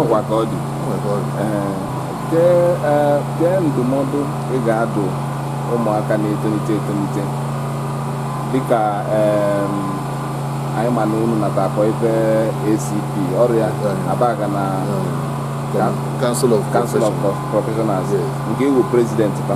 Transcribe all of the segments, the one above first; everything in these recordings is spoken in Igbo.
ọkwa ka ọ dị kee ndụmọdụ ị ga-adụ ụmụaka na-etolite etolite dịka anyị ma na unu nata akpọ ife ACP ọ ya Abagana Council of Council of Professionals nke ị wụ prezidenti fa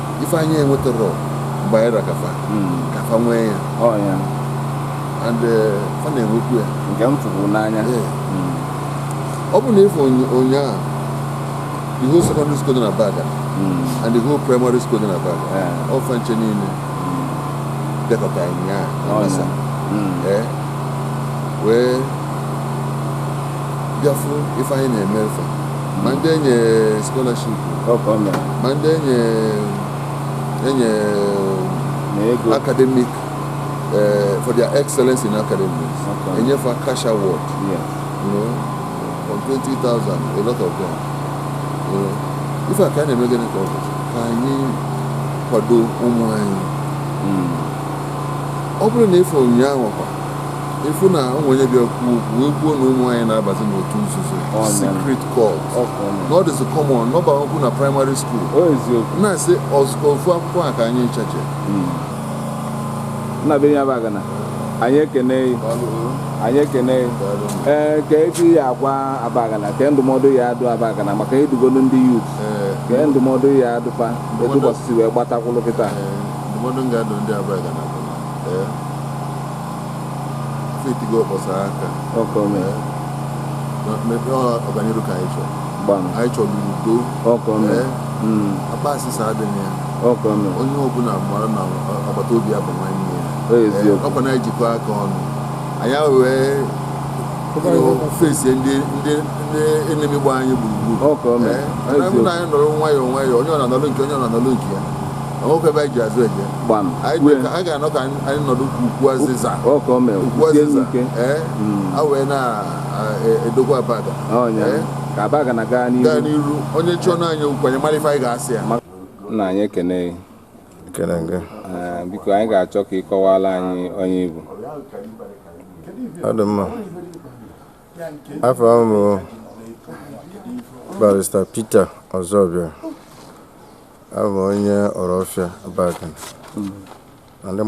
ife anyị enwetarọ mgbe anyị ra ka fa ka fa nwee ya Ọ ya. and eh, fa na-enwekwu ya Nke m fụrụ n'anya. Ee. ọ bụ na ị fụ ụnyaahụ the whole secondary school dị n'Abagana Mm. and the whole primary school dị n'Abagana Yeah. ọ fa ncha niile dekọta ụnyaahụ na Ọ ya. masa Mm. ee wee bịa fụ ife anyị na-emere fa ma ndị e nye scholarship ọ ka o mere ma ndị e nye e nye na ego academic eh, for their excellence in academics Okay. e nye fa cash award yes you know from 20,000 a lot of them you know ife a ka a na-eme gịnị ka ọ bụ ka anyị kwado ụmụ anyị Mm. ọ bụrụ na ị fụ ụnyaahụ kwa ị fụ na o nwe onye bịa kwuo okwu wee kwuo na ụmụ anyị na-abazi n'otu nzuzo secret cult na ọ dịzi common na ọ bakwu na praịmarị skuul na-asị ọzụkọ ofu akwụkwọ a ka anyị nchache hmm. nna be anyị Abagana anyị ekene anyị ekene ee eh, kee ife ị ya-agwa Abagana kee ndụmọdụ ị ya-adụ Abagana maka ị dụgolu ndị yut eh. kee ndụmọdụ ị ya-adụ fa etu ụbọchị si wee gbata kwụlụ kịta eh, ndụmọdụ m ga-adụ ndị Abagana bụ e tigo ọkpọ saa aka ọ ka o mee Eh, na- mepee ọ- ọganiru ka anyị chọrọ gbam anyị chọrọ udo ọ ka o mee Eh, Mm, ịkpọasị adịghị ya ọ ka o mee onye ọbụla mara na ọ- agbata obi ya bụ nwanne ya ọ Eh, eziokwu ọkwa na anyị jikọ aka ọnụ anyị wee fesi ndị ndị ndị enemi gba anyị gburugburu ọ ka o mee Eh, ọ na-abụ na anyị nọrọ nwayọọ nwayọọ onye ọ na-anọrọ nke onye ọ na-anọrọ nke ya o nwerọ ebe anyị ji azụ eje gbam anyị wee dị ka- anyị ga-anọ ka anyị anyị nọdụ ka ukwu azịza ọ ka o mere ukwu sie azịza ike ee Mm. a wee na-edokwa Abagana ọ ya Ee. ka Abagana gaa gaa n'ihu n'iru onye chọọ anyị okwu anyị mara ife anyị ga-asị ya nna anyị ekene gị. Ekele gị. Ee, biko anyị ga-achọ ka ị kọwara anyị onye ị bụ Ọ dị mma. afa m bụ barista Peter Ọzọbịa abụ m onye Ọrọfịa Abagana ndị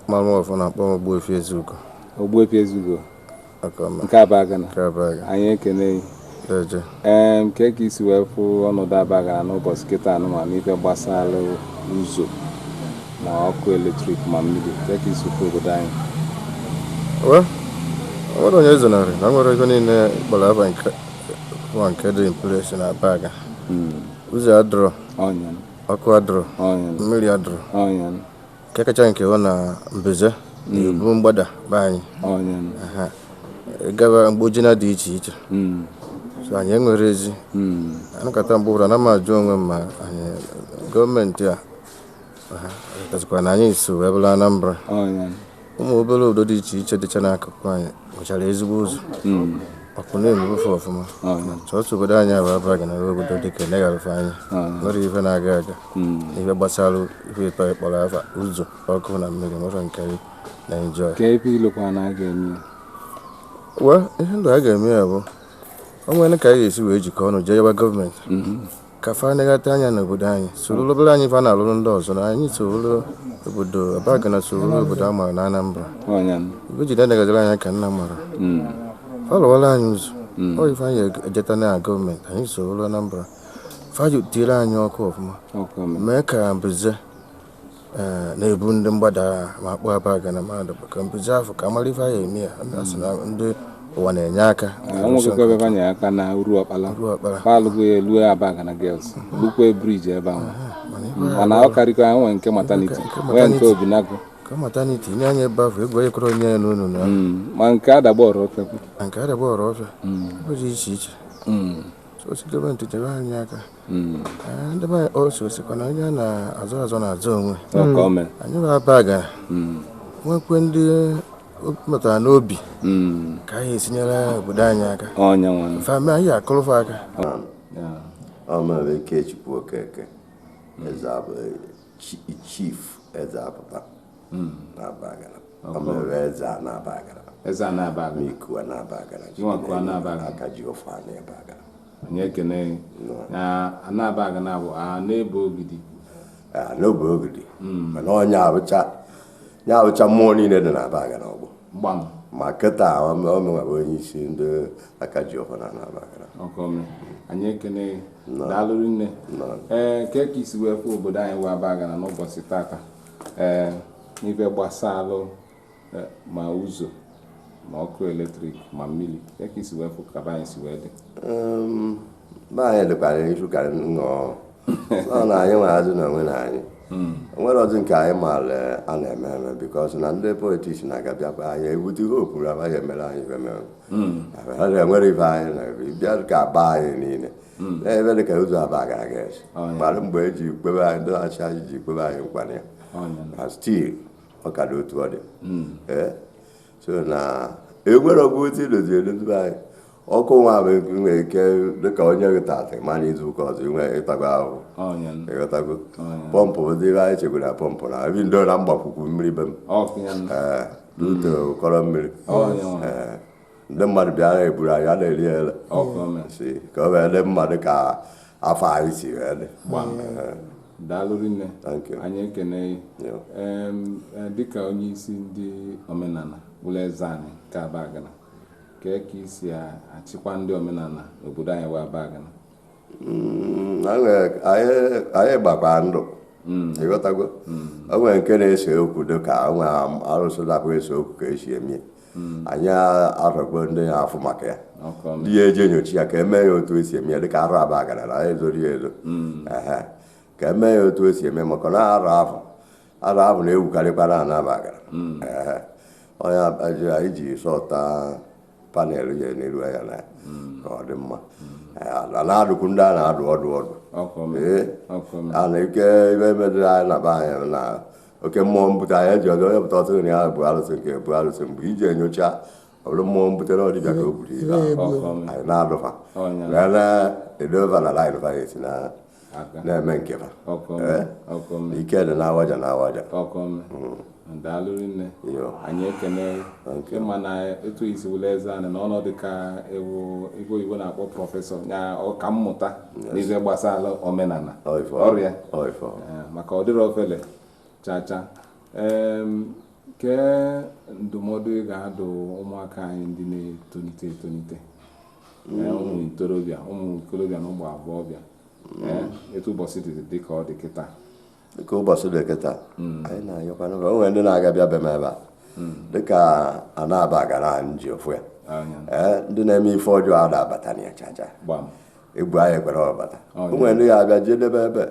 mara m ọfụma na-akpọ m Ogbuefi Ezeugo Ogbuefi Ezeugo nke Abagana anyị ekene ee kee ka i si wee fụ ọnọdụ Abagana n'ụbọchị kịta a nụnwa n'ife gbasara ụzọ na ọkụ eletrik ma mmiri kee ka i si fụ obodo anyị nwere onye ezonarị na nwere ego niile kpọrọ afa nke dị in place n'Abagana hmm. ụzọ adịrọ ọkụ adịrọ mmiri adịrọ nke kacha nke bụ na mbize na-ebu mgbada be anyị onye nụ. Aha. gaba mgbojina dị iche iche Mm, so anyị enwerọ ezi mm. anọkata mgbe ọ bụrụ na m ajụ onwe m ma anyị gọọmenti arotazikwa na anyị so wee bụrụ Anambra onye nụ. ụmụ obere obodo dị iche iche dịcha n'akụkụ anyị nwechara ezigbo ụzọ hmm. ọkụ na-enwu be fa ọfụma ah. sọsọ obodo anyị bụ Abagana obodo dị ka negharịfe anyị ah. nwerọ ife na-aga aga hmm. ife gbasara ife ịtọ ị kpọrọ afa ụzọ ọkụ na mmiri nwerọ nke a na-enjoy ka ebe ilokwa na a ga-eme wa ihe ndụ a ga-eme ya bụ o nwere ka a ga-esi wee jikọ ọnụ jee yọwa gọọmenti hmm. ka fa negata anya n'obodo anyị soro obere anyị fa na-alụrụ ndị ọzọ na anyị soro obodo Abagana soro obodo a mara na Anambra Ọnya m. ibe jide negaziri anya ka nna mara Mm. fa lụwara anyị ụzọ ọ ife anyị ejeta na gọọmenti anyị soro Anambra fa tinyere anyị ọkụ ọfụma Ọkụ m. mee ka mbize Eh, na-ebu ndị mgbada ma Akpụ Abagana mmadụ bụ ka mbize afọ ka mara ife anyị eme ya ndị asị na ndị ụwa na-enye aka enweghịkwa ebe banye aka na Uruọkpala Uruọkpala palụgo ya elue Abagana Girls lukwe briji ebe ahụ mana ife anyị mana ọ karịkọ ya nwee nke maternity Nke nwee nke maternity. Obinagụ ka mata na i tinye anya ebe ahụ egwu ekwerọ onye ya n'ụnọ na ma nke Adagbe Orofia na nke Adagbe Orofia ebe dị iche iche so sị gọọmenti nyere anyị aka Hmm. Eh, ndị be o so sịkwa na onye a na-azọ azọ na-azọ onwe hmm. anyị bụ Abagana hmm. nwekwe ndị metụtara n'obi ka anyị esi nyere obodo anyị aka fa mee anyị akụọrọ fa aka Ikechukwu Okeke chief eze apụta n'Abagana ọ mere eze a n'Abagana eze a n'Abagana iku a n'Abagana aka ji ọfọ n'Abagana anyị ekene gị na n'Abagana abụ a na-ebe ogidi Ah, n'obe ogidi mana onye abụcha ya abụcha mmụọ niile dị n'Abagana ọgbọ gbam ma kịta ọ mụnwa bụ onye isi ndị aka ji ọfọ na n'Abagana ọkọme anyị ekene gị daalụ nne ee kee ka i si wee fụ obodo anyị bụ Abagana n'ụbọchị tata ee n'ife gbasalụ Eh, ma ụzọ ma ọkụ eletrik ma mmiri ya ka isi wee fụ ka be anyị si wee dị be anyị dịkwara iche ka nnọọ ọ na anyị nwere azụ na onwe na anyị hmm. nwere ọzọ nke anyị maara eh, a na-eme eme because na ndị politics na-aga bịakwa anyị ebute ihe okpuru abaghị emere anyị ife mere hmm. ha na-enwere ife anyị na bịa ka ba anyị niile hmm. ebe dị ka ụzọ Abagana aga esi mgbe eji kwebe anyị ndị na-achị anyị ji kpebe anyị nkwanye ya stil ọ ka dị otu ọ dị hmm. eh? so na enwere ọgwụ otu idozi edozi anyị ọkụ nwa bụ nwere ike dịka o nye gị taata ị ma na izu ụka ọzọ inwe ịtago ahụhụ ịghọtago pọmpụ ụdị ihe anyị chegoro na pọmpụ na ebi ndo na mgbakwukwu mmiri be m ee eh, n'ute ụkọrọ mmiri ee eh. ndị mmadụ bịa ha eburu anyị a na-eri ele si ka o wee dị mmadụ ka afọ anyị si wee dị daalụ rinne anyị ekene gị, dịka onye isi ndị omenala wụrụ eze anyị nke Abagana kee ka i si achịkwa ndị omenala n'obodo anyị wụ Abagana mm, anyị gbakwa ndụ mm. ịghọtago mm. o nwere nke na-ese okwu dịka o nwe arụsị na-abụghị ese okwu ka esi eme anyị arọgbo ndị ya afụ maka ya ndị ya eji enyocha ya ka emee ya otu esi eme ya dịka arụ Abagana na anyị ezorọ ya ezo ka emee ya otu esi eme maka na arụ afụ arụ afụ na-ewukarịkwa na Abagana onye anyị ji sọta panel ya na-ele anya na hmm. ọ dị mma hmm. a na-adụkwu ndị a na-adụ ọdụ ọdụ a na ike ibe emedịrị anyị na be anyị na oke mmụọ mbute anyị eji ọdụ onye pụta ọtụtụ na ya bụ arụsị nke bụ arụsị mgbe iji enyocha ọ bụrụ mmụọ mbutere ọdịbịa ka o buru ibe anyị na-adụ fa wee na-edo fa na line fa ya esi na na-eme nke ha eh? ike dị n'awaja n'awaja hmm. daalụ rinne anyị ekene ị ma na etu i si wụrụ eze anyị na ọ na-adị ka ị wụ ife oyibo na-akpọ professor ya ọka mmụta n'ihe gbasara omenala ọrịa eh, maka ọ dịrọ ofele chacha kee ndụmọdụ ị ga-adụ ụmụaka anyị ndị na-etolite etolite ee, ụmụ ntorobịa ụmụ ikolobịa na ụmụ agbọghọbịa ee, etu ụbọchị dị dị ka ọ dị kịta dịka ụbọchị dị kịta anyị na-anyụkwanụ ka o nwere ndị na-aga bịa be m ebe a dịka na Abagana anyị ji ofu ya anya ee ndị na-eme ife ọjọọ a na-abata na ya chacha gbam egwu anyị ekwerọ ọ bata Ọ, o nwere ndị ga-abịa jee debe ebe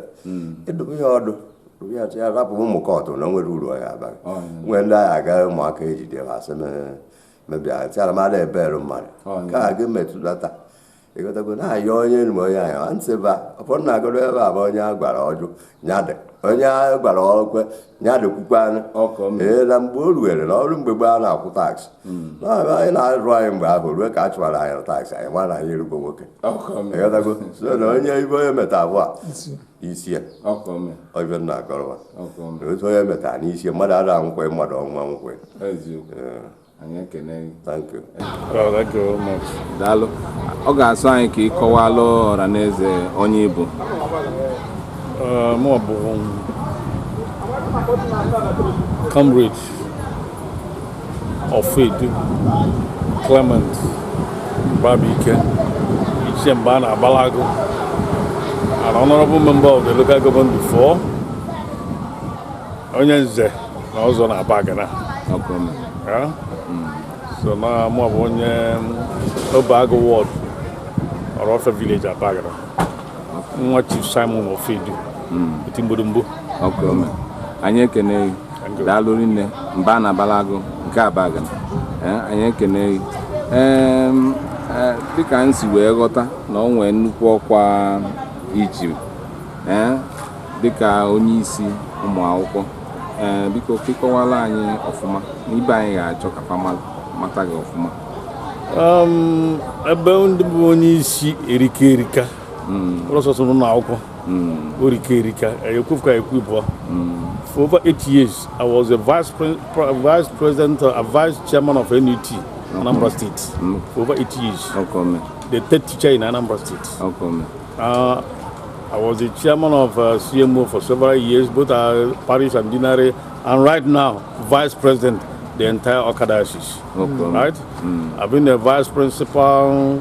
ịdụbụ ya ọdụ dụbụ ya sị ya rapụ ụmụ cult na o nwerọ uru ọ ga-abara gị Ọ, ya. nwere ndị anyị aga ụmụaka ejide ha asị m mebia tiara m ada ebere mmadụ ka a gị metụlata ị ghọtago na-ayọ onye nwe onye ahụ a ntị ba ụfọdụ na-agọrọ ebe a bụ onye a gwara ọ jụ nya dị onye a gwara o kwe nya dị kwukwanụ ee na mgbe o ruwere na ọrụ mgbe gboo a na-akwụ taksị na-abịa anyị na-arụ anyị mgbe ahụ ruo ka a chụwara anyị na taksị anyị ma na anyị erugo nwoke ị ghọtago so na onye ibe onye meta abụọ isi ya ọ bịa na-akọrọwa otu onye metara n'isi ya mmadụ ara anwụkwe mmadụ ọnwụ anwụkwe daalụ ọ ga-asọ anyị ka ị kọwalụ ọra na eze onye ị bụ mụọ bụ comrade Ofoedu Clement Babike ichie mba a na-abalụ agụ an honorable member of the local government before onye nze na ọzọ na abagana so na mụ bụ onye obeagu ward orofia village abagana nwa chief simon ofoedu eti mgbodogbo anyị ekene daalụ rinne mba a na-abalụ agụ nke abagana eh, anyị ekene gị eh, dịka m si wee ghọta na o nwee nnukwu ọkwa i ji eh, dịka onye isi ụmụ akwụkwọ ee biko ke kọwala anyị ọfụma na ibe anyị ga-achọ ka fa mata gị ọfụma um, ebe ndị bụ onye isi erika erika mm. ụlọ sọsọ n'ụlọ akwụkwọ mm. orika erika ekwu ka ekwu bụọ for over eight years i was a vice, pre vice president uh, a vice chairman of nut anambra state for over eight years the third teacher in anambra state uh, I was the chairman of uh, CMO for several years, both uh, Paris and Dinare, and right now, vice president the entire Okada Okay. Right? Mm. I've been the vice principal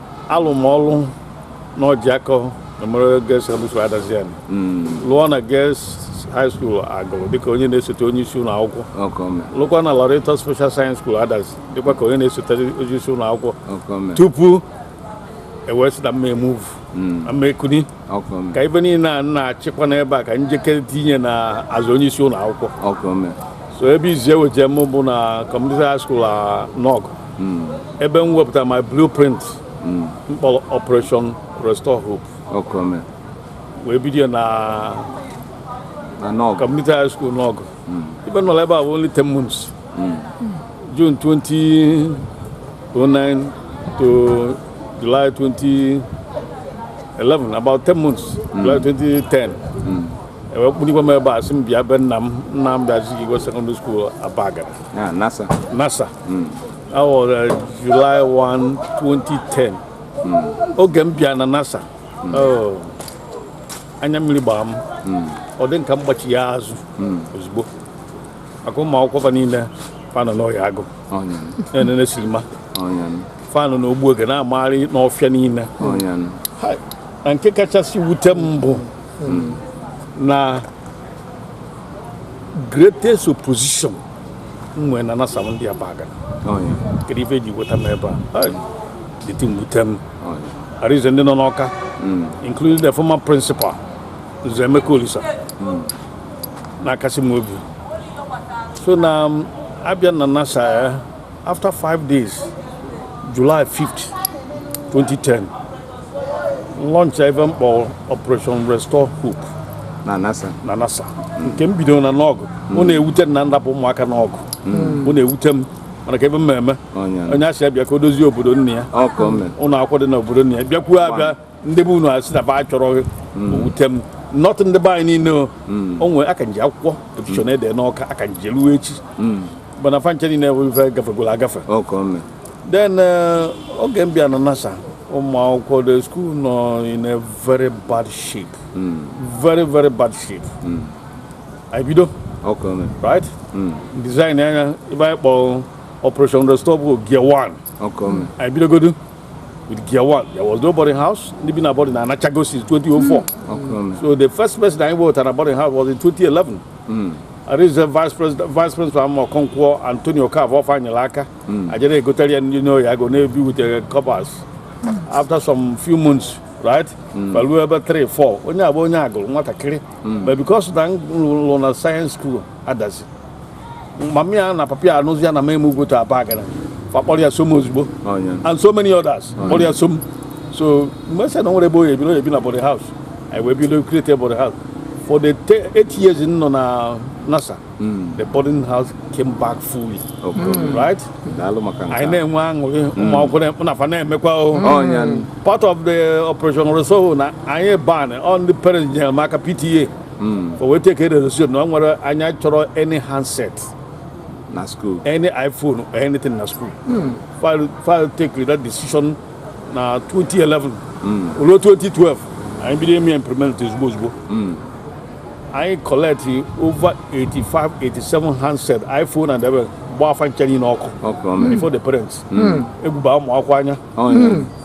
alụ m ọlụ na ojiako memorial girls secondary school adazi ani lụọ na girls high school agulu dịka onye na-esote onye isi ụlọ akwụkwọ lụkwa na Loreto special science school adazi dịkwa ka onye na-esote onye isi ụlọ akwụkwọ tupu e wee sị na m ma-emuvu na m ma-ekuni ka ive niile a na-achịkwa n'ebe a ka njikere tinye na azụ onye isi ụlọ akwụkwọ so ebe izizi e weje m bụ na community high school nawgu hmm. ebe m wepụtara my blueprint hmm. mkpọrọ operation restore hope wee bido na community high school nawgu hmm. ive m nọrọ ebe a bụ only 10 months June 2009 to July 2011 about 10 months July 2010 e wee kpụlikwa m ebe a sị m bịa be nna m nnamdi azikiwe secondary school abagana Ah, nasa nasa that was July 1 2010 oge m bịa na nasa oh, anya mmiri gbara m ọ dị m ka m gbachiya azụ ozugbo maka ụmụ akwụkwọ fa niile fa nọ n'Oye Agụ ọnya na-enene silima ọnya fa nọ n'ogbu oge na-amagharị n'ọfịa niile ọnya Ha, na nke kachasị wute m bụ na greatest opposition m nwere na NASA bụ ndị Abagana kedu ife eji weta m ebe a Hai, the thing wute m ọnya arize ndị nọ n'Ọka including the former principal Nze Emeka Olisa na-akasị m obi so na mụ abịa na NASA ya eh, after five days july 5th 2010 m launch ife m kpọ operation restore hope na NASA na NASA nke m bidoro na Nawgu ọ mm. na-ewute m na m rapụ ụmụaka Nawgu ọ mm. na-ewute m mana kee ife m ga-eme onye a sị ya bịa ka o dozie obodo nna ya ụlọ akwụkwọ dị na obodo nna ya bịakwuo abịa ndị be unu asị na fa achọrọ gị o wute m not ndị be anyị niile o. o nwere aka m ji akwụkwọ petishọn e de n'Ọka aka m ji ruo echi mana fa ncha niile bụ ife gafegoro agafe ọkọ mme then eh, oge m bịa na NASA ụmụ akwụkwọ the school nọ in a very bad shape very very bad shape anyị bido ọkọ mme right designịa ife anyị kpọrọ operation restore hope gear 1 ọkọ mme anyị bidogodu with gear one. There was no boarding house. Ndị bi na boarding na anachago since 2004. Mm. So the first person I wrote at a boarding house was in 2011. Mm. I reached the vice president, vice principal Amọ Konkwo, Antonio Kav, off Anyalaka. Mm. I just go tell you, you know, I go navy with the coppers. Mm. After some few months, right? Mm. But we were about three, four. Onye abo onye agụrụ nwatakịrị. But because na nlụ na science school, adasi. mama ya na papa ya anụzi ya na m emovego to Abagana fa kpọrọ ya so m ozugbo and so many others kpọrọ ya so m so m wee sị na o nwerọ ebe ọ ya-ebi ọ ya-ebi na boarding house anyị wee bido create boarding house for the eight years m nọ na NASA hmm. the boarding house came back fully hmm. right anyị na-enwe aṅụrị hmm. ụmụ akwụkwọ na fa na-emekwa oh, part of the operation restore na anyị ban on the parents nyere m aka PTA hmm. fa wee take resolution na ọ nwere anyị achọrọ any handset na school any iphone or anything na school hmm. fa wee fa wee take that decision na 2011 hmm. ruo 2012 anyị bido implement ozugbo ozugbo anyị collect over 85 87 handset iphone and everything gbaa fa ncha niile ọkụ before the parents egwu baa ụmụ akwụkwọ anya oh,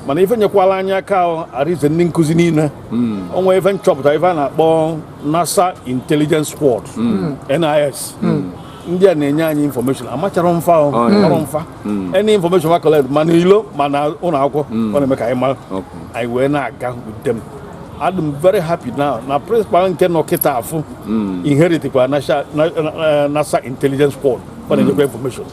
mana ife nyekwalụ anyị aka arize ndị nkụzi niile hmm. o nwere ife m chọpụta ife a na-akpọ NASA Intelligence Squad hmm. NIS hmm. ndị a na-enye anyị infọmeshọn amachara m fa oh, ọrụ fa any infọmeshọn fa collect ma n'ilo ma n'ụlọ akwụkwọ ọ na-eme ka anyị mara anyị wee na-eguide them adị m very happy now na prịnsịpal nke nọ kịta afụ inheritikwa NASA eh, Intelligence Squad ọ na-enyekwa infọmeshọn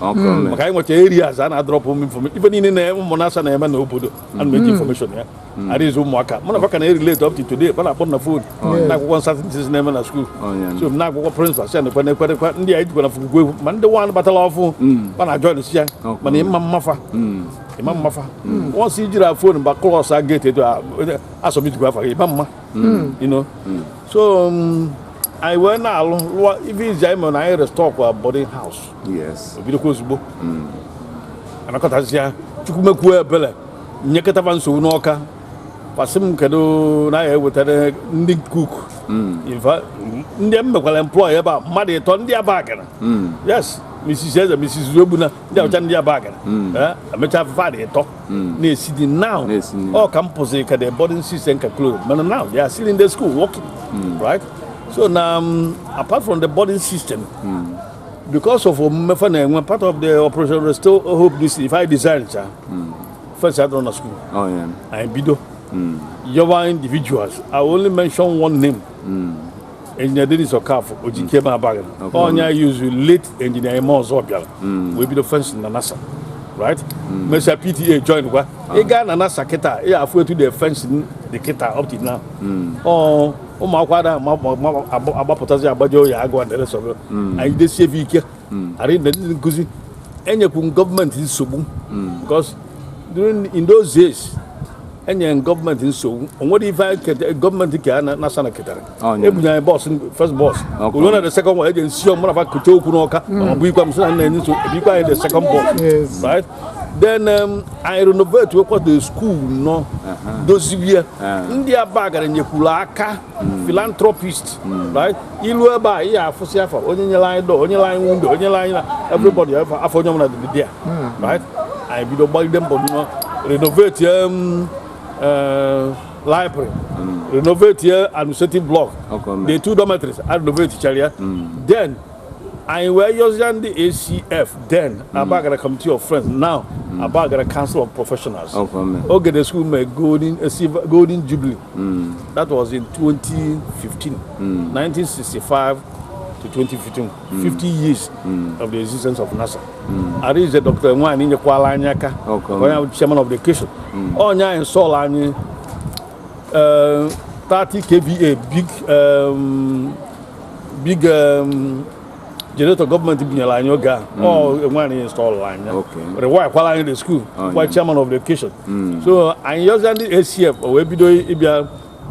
maka anyị nwecha areas a na-adrọpụ m infọmeshọn ife niile na ụmụ NASA na-eme n'obodo ana m eji infọmeshọn ya hmm. adịghịzi ụmụaka mụ na fa ka na-relate up to today fa na-akpọ na phone oh, na-agwakwa m certain things na-eme na school oh, so na-agwakwa principal sị nekwe nekwerekwa ndị a ejikwa na fugugwu egwu ma ndị nwaanyị batara ọfụ hmm. fa na join sị ya mana ị ma m afa hmm. ị ma m afa once ijiri a fon mgba close a gate etu asọmijikwa afa gị ịma mma you know so um, anyị wee na-alụ lụọ ife izizi anyị mere na anyị restore kwa boarding house obidokwa ozugbo anakọtasịa chukwu mekwu ebele nyekata fa nsogbu n'ọka fa sị m kedu na ya ewetara ndị cook hmm. ndị m mekwara employ ebe a mmadụ ịtọ ndị abagana hmm. yes mrs eze mrs ogbuna ndị ọcha ndị abagana hmm. eh, emechaa fa dị ịtọ na-esi nni now ọ ka m pụsịrị ka the boarding system ka close mana now they are still in the school working right so na um, apart from the boarding system because of omume fa na-enwe part of the operation restore hope this ife anyị design cha hmm. fence adịrọ na school oh, anyị bido hmm. yọwa individuals i only mention one name hmm. engineer dennis okafor ojikeme abagana onye anyị use late engineer ime ozobia wee bido fence na nasa right mesịa pta join kwa ah. ị gaa na nasa kịta ị ya-afụ etu the fence dị kịta up to now oh. ụmụ akwụkwọ ada agbapụtazi agbaje oye agụ and the rest of it hmm. anyị jidesie ebe ike hmm. arịọ ndị nkụzi enyekwu government nsogbu hmm. because during in those days enyere government nsogbu o nwerọ ife government kee nasa na-eketarọ oh, ebunye anyị bus first bus o lue na the second one eji nsi ọ mụ na fa kote okwu n'ọka ọ bụ ikwa m sị na m na-enye nsogbu ebunyekwa anyị the second bus right then um, anyị renovate wekwa the school now uh-huh. doziwe uh-huh. ndị abagana nyekwuru aka hmm. philanthropist hmm. right i lue ebe a ị ya-afụsị afa onye nyere anyị door onye nyere anyị window onye nyere anyị na hmm. everybody afa onye ọbụla dị there right anyị bido gbagide mbọ na renovate um, uh, library renovate administrative block the two dormitories anyị renovate chara ya then anyị wee yọzie ndị acf then hmm. abagana committee of friends now hmm. abagana council of professionals oge the school mee golden golden jubilee hmm. that was in 2015 1965 to 2015 50 years of the existence of nasa arize dr nwanyị nyekwala anyị aka onye chairman of the occasion ọ ya install anyị 30 kva big um, big um, generator government bunyere anyị oge a hmm. ọ ya nwa install anyị rewire kwala anyị the school oh, kwa chairman of the occasion hmm. so anyị yọzia ndị acf o wee bido ịbịa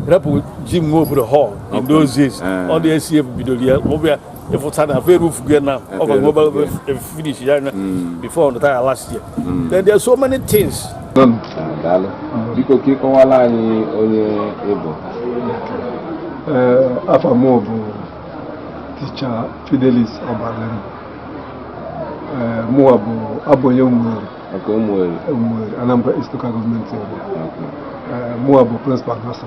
repair jim nwobodo hall in those days eh. ọ ndị acf bidoro ya ọ bịa ịfụta na fa roof ya now government finish ya anya hmm. before the time last year then there are so many things daalụ biko ka ị kọwala anyị onye ị bụ afa m bụ ticha Fidelis Obalim mụwa bụ abụ onye Umueri maka ụmụ eri Umueri Anambra East Local Government Area mụwa bụ principal NASSA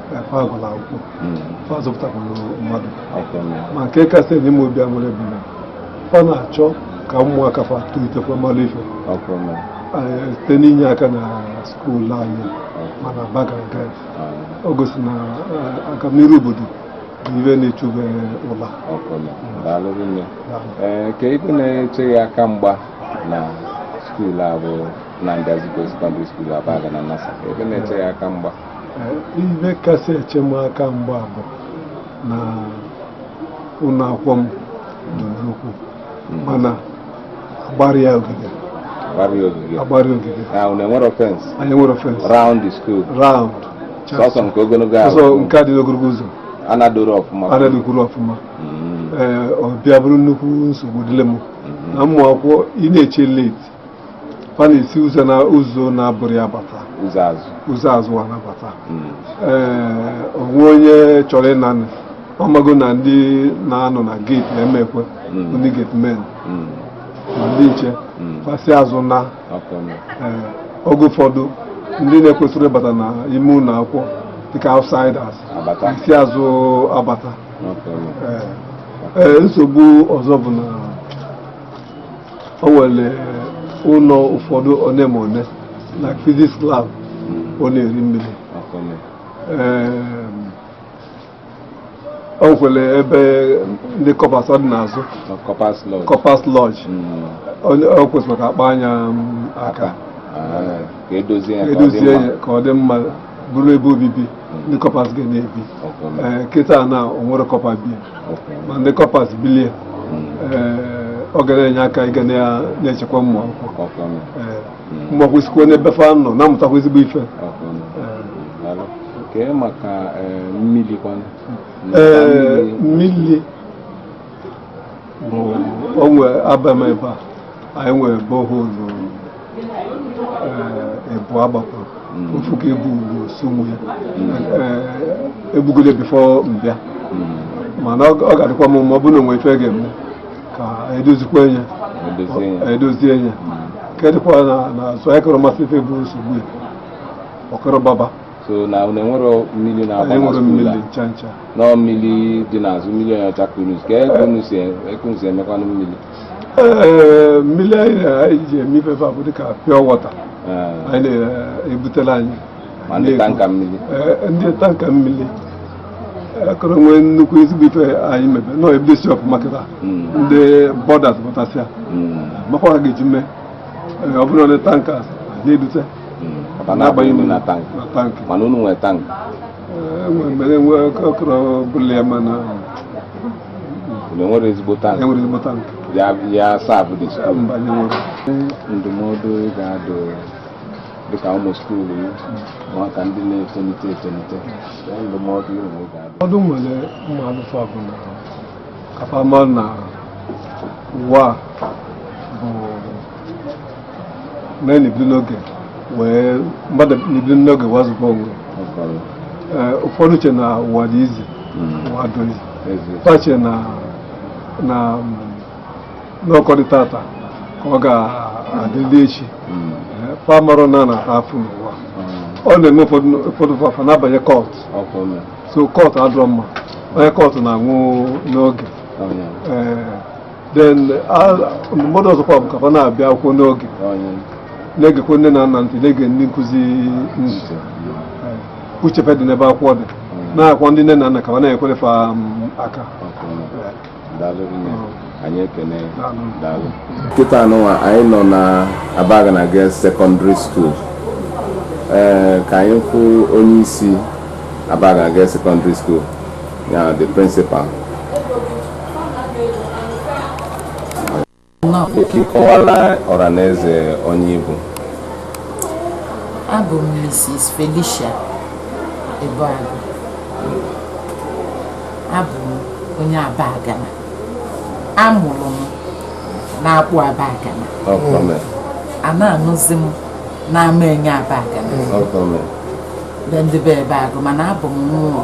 fa agụla akwụkwọ fa zụpụtakwuru mmadụ ma nke kasị enye m obi aṅụrị bụ na fa na-achọ ka ụmụaka fa tolitekwa mara ife site n'inye aka na skuulu anyị ma n'Abagana nke o gosi na agamniru obodo bụ ife na-echu fa ụla kee ife na-eche gị aka mgba na skuulu a bụ Nnamdi Azikiwe Secondary School Abagana NASSA ife na-eche gị aka mgba ife kasị eche m aka mgba bụ na ụlọ akwụkwọ m dị nnukwu hmm. mana agbara ya ogige agbara ogige anyị nwere fence anyị nwere fence round the school round sọsọ nke ogologo ahụ sọsọ nke dị n'ogologo ụzọ anadoro ọfụma anadokwuru ọfụma hmm. ee ọ bịa bụrụ nnukwu nsogbu dịlị m hmm. na ụmụ akwụkwọ ị na-eche late fa na-esi ụzọ na ụzọ na-abụrọ ya bata ụzọ azụ ụzọ azụ a na-abata Mm. ee o nwee onye chọrọ ịna nị ọ mago na ndị na-anọ na geeti ama ekwe Mm. ndị gate men Mm. ma ndị nche Mm. fa si azụ naa ọkụ ọnụ. ee, oge ụfọdụ ndị na-ekwesirọ ịbata na ime ụlọ akwụkwọ dịka outsiders Abata. esi azụ abata ọkụ ọnụ. Ee, ee, nsogbu ọzọ bụ na o nwere ụlọ ụfọdụ one ma one like physics lab ọ na-eri mmiri o nwekwere ebe ndị kọpas ọ dị n'azụ kọpas lodge o kwesịrị ka a kpanye aka e dozie ya ka ọ dị mma bụrụ ebe obibi ndị kọpas ga na-ebi ee kịta na o nwerọ kọpa bi ma ndị kọpas bilie ee ọ ga na-enye aka ịga na- na-echekwa ụmụ akwụkwọ ee ụmụ akwụkwọ sikwa n'ebe fa nọ na-amụtakwa ezigbo ife kee maka mmiri kwanụ ee mmiri onwe abam ebe a anyị nwere borehole e bu eh, agbapụrụ hmm. ofu ka ebugo sumo ya hmm. eh, ebugole before m bịa hmm. mana ọ ga-adịkwa mma ọ bụrụ na o nwe ife a ga-eme ka e dozikwa ya e dozie ya ka ọ dịkwa na azụ anyị akarọ masị ife bụ nsogbu ya ọ karọ gbaba so na unu enwero mmiri na-agba na skuul a nọ mmiri dị n'azụ mmiri onye ọcha kedu ka ebe unu si e, emekwanụ mmiri mmiri anyị ji eme ife bụ dịka pure water anyị na-ebutela anyị ndị tanker mmiri ndị tanker mmiri akarọ nwee nnukwu ezigbo ife anyị mebe nọ ebidosi ọfụma kịta ndị boarders pụtasịa makwa ha ga-eji mee ọ bụrụ ndị tanker na-ebute na-agbanye na tank mana unu nwere tank enwere mgbe enwe ọkọrọ bụla ya mana enwero ezigbo tank enwero ezigbo tank ya saabụ dị ndụmọdụ ị ga-adụ dịka ụmụ skuulu nwata ndị na-etolite etolite ndụmọdụ ị nwere ga-adụ ọdụ nwere mụ adụ fa bụ na ka fa mara na ụwa bụ mee na-ebido n'oge wee mmadụ na-ebido n'oge wee zụba onwe Ee, ụfọdụ che na ụwa dị easy ụwa adịrọ easy fa che na na mm, na ọ ka ọ dị taata ka ọ ga-adịli echi Ee, fa amarọ na a na-ata afụfụ n'ụwa ọ na-eme ụfọdụ ụfọdụ fa fa na-abanye cult so cult adịrọ mma onye cult na-anwụ n'oge then ndụmọdụ ọzọkwa bụ ka fa na-abịa akwụkwọ n'oge na-egekwe nne na nna ntị na-ege ndị nkụzi ntị uche fa dị n'ebe akwụkwọ dị nakwa ndị nne na nna ka fa na-ekwere fa aka anyị ekene daalụ kịta anụnwa anyị nọ na Abagana Girls Secondary School ee ka anyị kwụ onye isi Abagana Girls Secondary School ya the principal Ị kọwalụ ọranaeze onye ị bụ. Abụ m Mrs. Felicia Ebeagụ. Abụ m onye Abagana. A mụrụ m n'Akpụ Abagana. A na-anụzi m n'Amaenye Abagana. Ndị be Ebeagụ mana abụ m nwa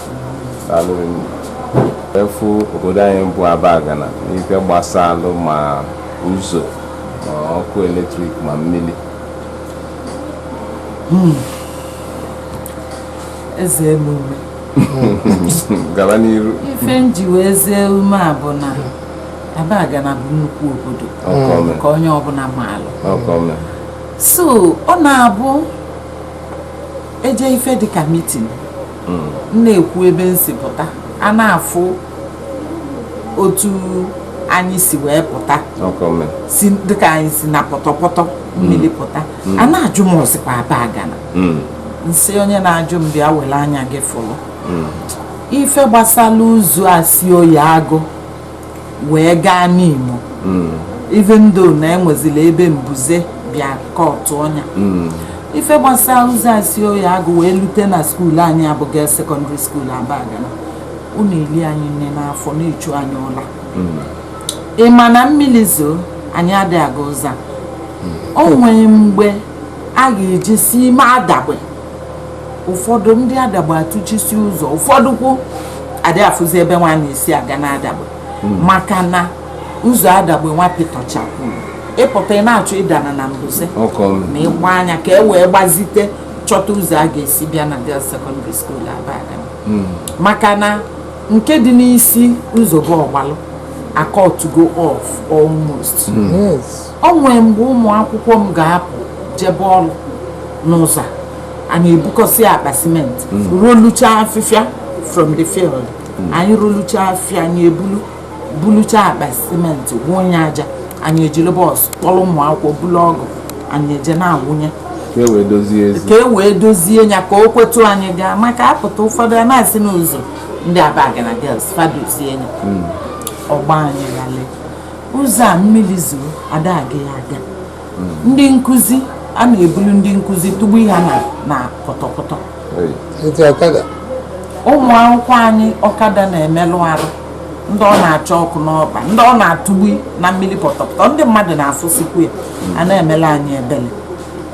afụ obodo anyị bụ Abagana n'ife gbasalụ ma ụzọ ma ọkụ eletrik ma mmiri hmm. ezee m ume gaba n'iru ife m ji wee zee ume a bụ na Abagana bụ nnukwu obodo ka onye ọbụla maalụ so ọ na-abụ e jee ife dịka meeting hmm. m na-ekwu ebe m si pụta a na-afụ otu anyị si wee pụta si dịka anyị si na pọtọpọtọ mmiri hmm. pụta hmm. a na-ajụ m o sikwa Abagana m sị onye na-ajụ m bịa were anya gị fụrụ ife gbasara ụzọ a si Oye Agụ wee gaa Nimo hmm. even though na enwezila ebe mbuze bịa kọtụ ọnya hmm. ife gbasara ụzọ a si Oye Agụ wee lute na skuulu anyị abụ Girls Secondary School Abagana ọ na-eli anyị nni n'afọ na-echu anyị ụla hmm. ị ma na mmiri zoo anyị adịghị aga ụzọ o nwere mgbe a ga-eji si ime Adagbe ụfọdụ ndị Adagbe atụchisi ụzọ ụfọdụkwu adị afụzi ebe nwa a na-esi aga na Adagbe hmm. maka na ụzọ Adagbe nwa pịtọchapụrụ ị pụta ị na-achọ ịdana na mbuze ma ịgba anya ka e wee gbazite chọta ụzọ a ga-esi bịa na Girls Secondary School Abagana hmm. maka na nke dị n'isi ụzọ bụ Ọgbalụ akọtugo off almost hmm. O nwee mgbe ụmụ akwụkwọ m ga-apụ jebe ọrụ n'ụzọ a, anyị ebukọsị akpa simenti rolucha afịfịa from the field anyị rolucha afịfịa anyị ebulu bulucha akpa simenti wụnye aja anyị ejiri bọọsụ kpọrọ ụmụ akwụkwọ bulu ọgụ anyị eje na-awụnye ka e wee dozie ya ka o kwetu anyị gaa maka a pụta ụfọdụ a na-asị na ụzọ ndị Abagana Girls fa dozie ya ọ gbaa anyị ghalị ụzọ a mmiri zoo ada aga ya aga ndị nkụzi a na-ebulu ndị nkụzi tụgbu ha na na pọtọpọtọ ọkada. ụmụ akwụkwọ anyị ọkada na-emelụ ha arụ ndị ọ na-acha ọkụ n'ọkpa ndị ọ na-atụgbu na mmiri pọtọpọtọ ndị mmadụ na-afụsikwu ya a na-emele anyị ebele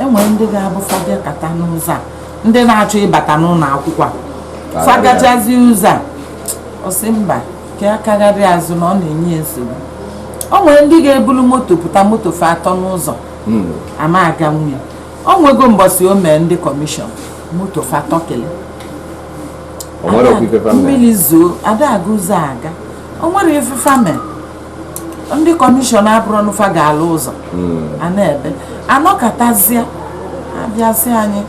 enwere ndị ga-abụ fa bịakata n'ụzọ a ndị na-achọ ịbata n'ụlọ akwụkwọ a fa gachazie ụzọ a ọ sị mba ka ya kagharịa azụ na ọ na-enye ya nsogbu o nwere ndị ga-ebulu moto pụta moto fa atọ n'ụzọ hmm. ama aganwu ya o nwego mbọsị o mee ndị kọmishọn moto fa atọkili mmiri zoo ada aga ụzọ a aga o nwere ife fa mee ndị kọmishọn abụrụ na fa ga-alụ ụzọ hmm. a na-ebe anọkatazie abịa sị anyị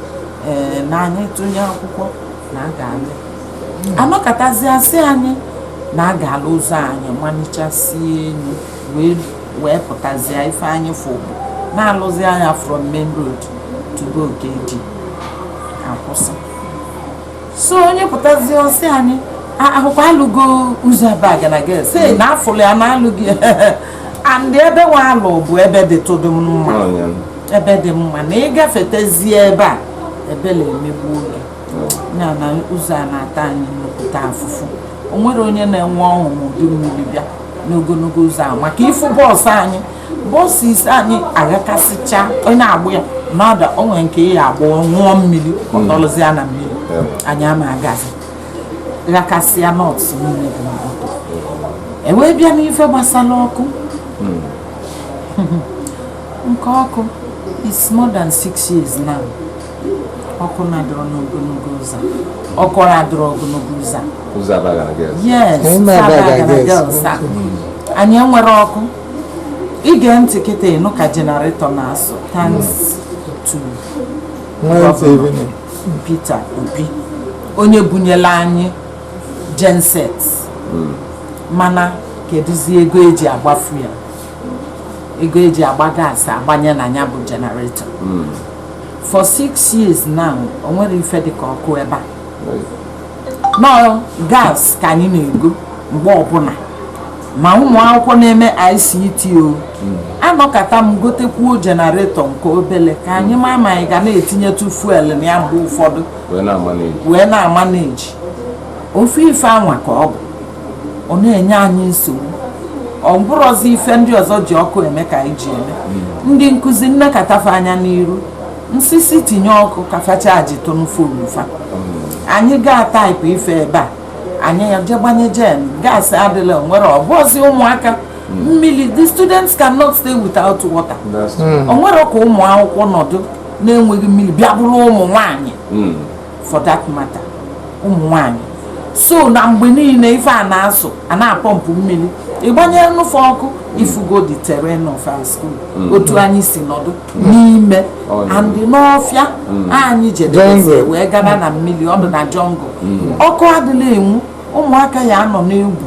ee eh, na anyị tụnye akwụkwọ na a ga-alụ anọkatazie asị anyị na a ga-alụ ụzọ anyị malichasie elu wee pụtazie ife anyị fụ bụ na alụzie nya from main road to be Okedi akwụsị so onye pụtazie ọ sị anyị ọ bụkwa alụgo ụzọ Abagana Girls sị na afụlụ ya na alụghị and ebe nwa alụ bụ ebe dịtụdụ mma ebe dị mma na ị gafetezie ebe a ebele emegbuo gị ya na ụzọ a na-ata anyị nnukwu afụfụ o nwerọ onye na-enwe ọṅụ ma udu mmiri bịa n'ogologo ụzọ a maka ịfụ bọọsụ anyị bọọsụ ise anyị aghakasịcha onye agbụ ya na-ada o nwere nke ya agbụ ṅụọ mmiri ọ nọlụzia na mmiri anyị ama agazi ghakasịa nuts niile dị n'ọkụ ewee bịa n'ife gbasara ọkụ nke ọkụ is more than six years now ọkụ na-adịrọ n'ogologo ụzọ ọkụ na-adịrọ ogologo ụzọ yes Abagana Girls anyị enwerọ ọkụ ị gee ntị kịta ị nụ ka jenaretọ na-asụ thanks to Gọvanọ Peter Obi onye bunyela anyị genset mana kedụzi ego eji agba fuel ego eji agba gaasị agbanye na ya bụ generator hmm. for six years now o nwerọ ife dịka ọkụ ebe a nọ gas ka anyị na-ego mgbe ọbụla ma ụmụ akwụkwọ na-eme ICT o hmm. anọkata m gotekwuo jenareto nke obele ka anyị ma ma anyị ga na-etinyetụ fuel na ya mgbe ụfọdụ wee na-amaneji ofu ife anwa ka ọ bụ ọ na-enye anyị nsogbu ọ bụrụzi ife ndị ọzọ ji ọkụ eme ka anyị ji eme hmm. ndị nkụzi m nekata fa anya n'iru m sị si tinye ọkụ ka fa chajitụnụ phone fa hmm. anyị gaa taịpụ ife ebe a anyị ya-eje gbanye jen gaasị adịla nwere ọbụzi ụmụaka hmm. mmiri the students cannot stay without water o nwerọ ka ụmụ akwụkwọ nọdụ na-enweghị mmiri bịa bụrụ ụmụ nwanyị for that matter ụmụ nwanyị so na mgbe niile ife a na-asụ a na-apọmpụ mmiri ịgbanyelụ fa ọkụ ị fụgo the terrain of our school mm. otu anyị si nọdụ mm. n'ime and n'ọfịa mm. anyị jedebezi wee gaba na mmiri ọ dị na jungle ọkụ adịla enwu ụmụaka ya-anọ n'egwu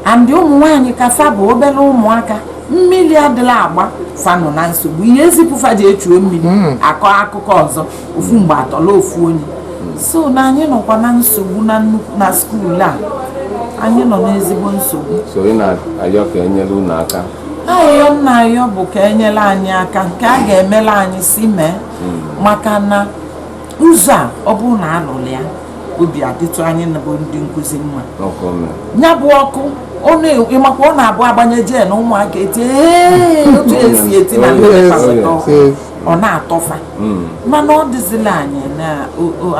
and ụmụ nwaanyị ka fa bụ obere ụmụaka mmiri adịla agba fa nọ na nsogbu ị ya-ezipụ fa jee chuo mmiri akọ akụkọ ọzọ ofu mgbe atọla ofu onye so na anyị nọkwa na nsogbu na skuul a anyị nọ n'ezigbo nsogbu so ị na-ayọ ka enyere unu aka ayịyọ m na-ayọ bụ ka enyere anyị aka nke a ga-emere anyị si mee hmm. maka na ụzọ a ọ bụrụ na alụrụ ya obi adịtụ anyị bụ ndị nkụzi mma ya bụ ọkụ ịmakwa ọ na-abụ agbanye jen ụmụaka eti otu esi eti na ndị ọ na-atọ fa hmm. mana ọ dịzila anyị na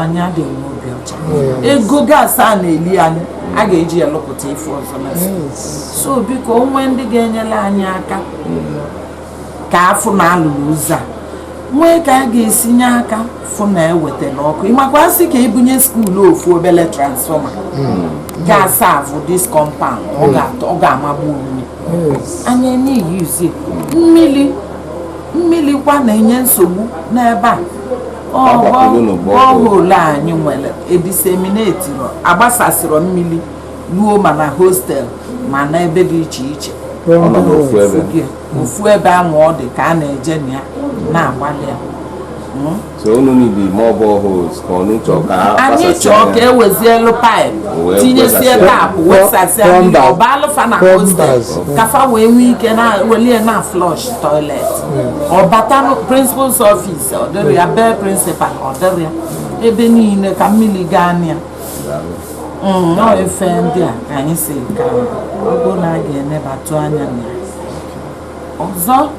anyị adịghị n'obi ọcha hmm. ego gas a na-eli anyị a ga-eji ya lụpụta ife ọzọ na hmm. so biko o nwee ndị ga-enyere anyị aka ka a fụ na a lụrụ ụzọ a nwee ka a ga-esi nye aka fụ na ewetala ọkụ ị makwa a sị ka e bunye school ofu obele transformer ga-asavụ this compound ọ ga-amagbu mmiri anyị na-eyuzi mmiri mmiri kwa na-enye nsogbu n'ebe a borehole anyị nwere ediseminetiro agbasasịrọ mmiri ruo ma na hostel ma na ebe dị iche iche ofu ebe ahụ ọ dị ka a na-eje na ya na-agbalị ya hmm? anyị chọọ ka e wezielu pipe tinyesie tap wesasịa mmiri ọ baalụ fa na hostel ka fa wee nwee ike welie na flush toilet hmm. ọ bata principal's office ọ dịrị ya be principal ọ dịrị ya ebe niile ka mmiri gaa na ya hmm, ọọ ife ndị a ka anyị sị ka ọ bụrụ na a ga-enebatụ anya na ya ọzọ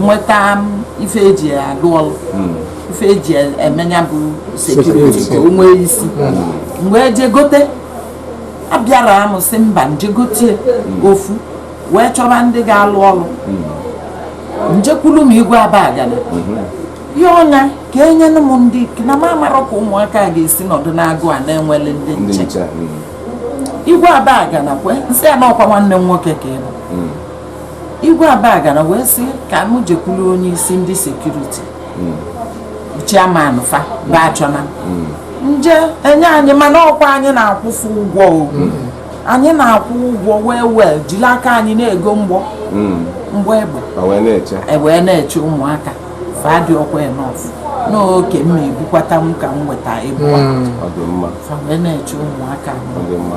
nweta ife eji alụ ọlụ hmm. ife eji eme nya bụ security ka o nwee isi m wee hmm. je gote abịara m si mba m je gotie hmm. ofu wee chọba ndị ga-alụ ọlụ m jekwulu ma igwe abagana yọọ nya ka e nyere m ndị na m amarọ ka ụmụaka ga-esi nọdụ n'agụ a na-enwele ndị nche igwe abagana kwe m sị ya na ọkwa nwanne m nwoke ka ị bụ igwe abagana wee sị ka m jekwuru onye isi ndị security chairman fa bụ achọna m je e nye anyị mana ọkwa anyị na-akwụ fa ụgwọ o anyị na-akwụ ụgwọ wee wee jiri aka anyị na-ego mgbọ mgbọ egbe Ma wee na-eche e wee na-eche ụmụaka fa adịrọkwa enough n'oke m na-ebukwata m ka m weta ịbụa ọ dị mma fa wee na-eche ụmụaka m ọ dị mma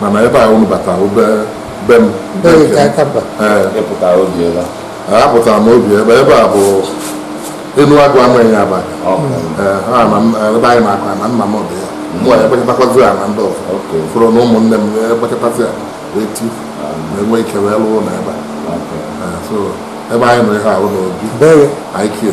mana ebe a unu bata be m apụtara m obi ebe ebe a bụ enuagụ amaenye abagana ebe anyị na-akụ na nna m dị ya mụ ya ekpekọtakwazi ya na ndị ọzọ fụrụ na ụmụnne m ekpekọtasị ya wee ti na-enwe ike wee lụọ na ebe a ebe anyị nọ ihe ahụ n'obi anyị kie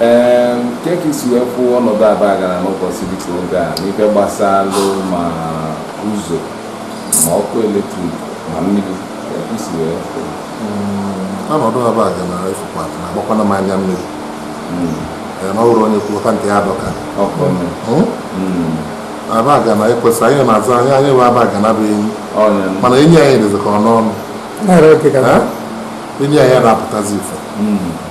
ee kee ka i si wee kwụ ọnọdụ abagana n'ụbọchị dịka oge a n'ife gbasalụ ma ụzọ ma ọkụ eletrik ma mmiri i si wee kwụ hmm, ọnọdụ abagana efukwa na-agbakwana m anya mmiri hmm. na ọ bụrụ onye kwuta nke ya dọka abagana ekwesị anyị na-aza anyị anyị bụ abagana bụ enyi mana enyi anyị dịzi ka ọ nọ n'ọnụ enyi anyị adị apụtazi ife hmm.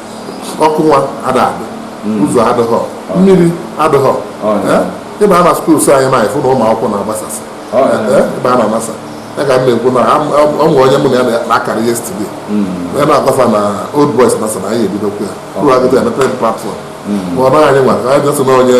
ọkụ nwa ada adị hmm. ụzọ adịghọ mmiri adịghọ ịba na skuls anyị na-afụ na ụmụ akwụkwọ na-agbasasị ịba na anasa ya ka m na-ekwu na ọ nwere onye mụ na ya na-akara yesterday onye na-agbafa na old boys nasa na anyị ebidokwu ya ụlọ agịdị ya mepere platfọm ma ọ naghị anyị nwa ka anyị bịa sị na onye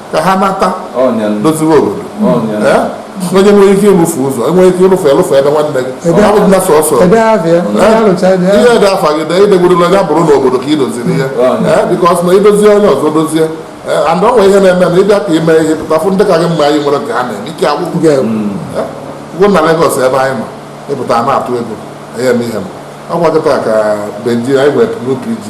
ka ha nata doziwe obodo onye nwere ike ịrụfe ụzọ enwere ike ịrụfe ịrụfe ebe nwanne gị abụdịla sọsọ ihe dị afa gị dee idegwurula ya bụrụ n'obodo ka ị doziri ihe bikọs na idozie onye ọzọ dozie and ọ nwere ihe na-eme na ịbịa ka ime ihe pụta fụ ndị ka gị mma anyị nwere ka ha na-eme ike agwụ gị na Lagos ebe anyị nọ ịpụta na-atụ ego anyị eme ihe m ọkwa kịta ka Benji anyị nwere new PG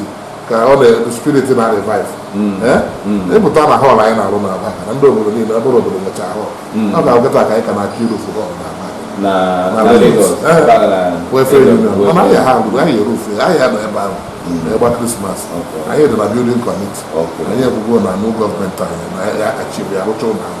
ka ọ na spirit na revive hmm. Eh? Hmm. ịpụta na họl anyị na-arụ na Abagana ndị obodo niile abụrụ obodo nwecha họl hmm. ọkwa kịta ka anyị ka na-achọ irufu họl na Abagana ha agụgụ anyị erufu anyị ya nọ ebe ahụ na-egba krismas anyị dị na bildin kọmiti anyị ekwugo na new gọọmenti anyị na ya achịbụ ya rụcha ụlọ ahụ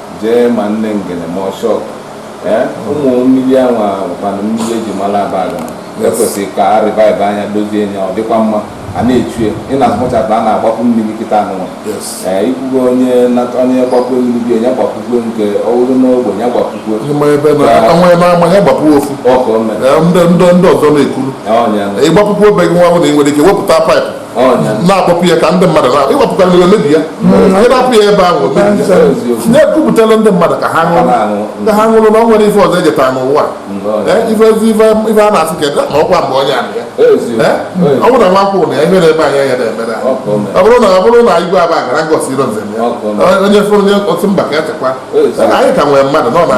jee ma nne ngene ma ọshọk eh, ụmụ mmiri anwa kwanụ mmiri eji mara Abagana kwesịrị ka a revive anya dozie nya ọ dịkwa mma a na-echue ị na-azụmụchata a na-agbapụ mmiri kịta anụnwa ee eh, ikwugo onye onye gbapụ mmiri onye gbapụkwe nke ọhụrụ n'ogbe ya gbapụkwe ofu ndị ọzọ na-ekuru ịgbapụkwu be gị nwa bụ na ị nwere ike wepụta paịpụ na-akpọpụ ya ka ndị mmadụ na ịwapụta mmiri omebi ya anyị na-apụ ya ebe ahụ omebi ya na-ekwupụtara ndị mmadụ ka ha ṅụrụ ka ha ṅụrụ na ọ nwere ife ọzọ ejeta n'ụwa ife ife a na-asị ka ma ọkwa mgbe onye amị ya ọ bụrụ na nwa nkwụ na ya ihere ebe anyị ya na-emere ọ bụrụ na ọ bụrụ na igwe Abagana ngosi iro nze ya onye fụrụ onye otu mba ka ya chekwa anyị ka nwere mmadụ nọ na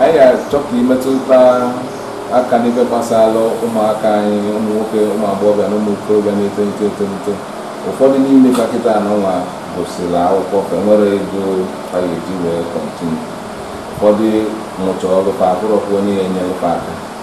anyị ga-achọ ka imetụta aka n'ife gbasara ụmụaka anyị ụmụ nwoke ụmụ agbọghọbịa na ụmụ okorobịa na-etolite etolite ụfọdụ n'ime fa kịta anụnwa gụsịrị akwụkwọ fa enwerọ ego fa ga-eji wee kọntinu ụfọdụ mụcha ọrụ fa afụrọkwa onye ya enyere fa aka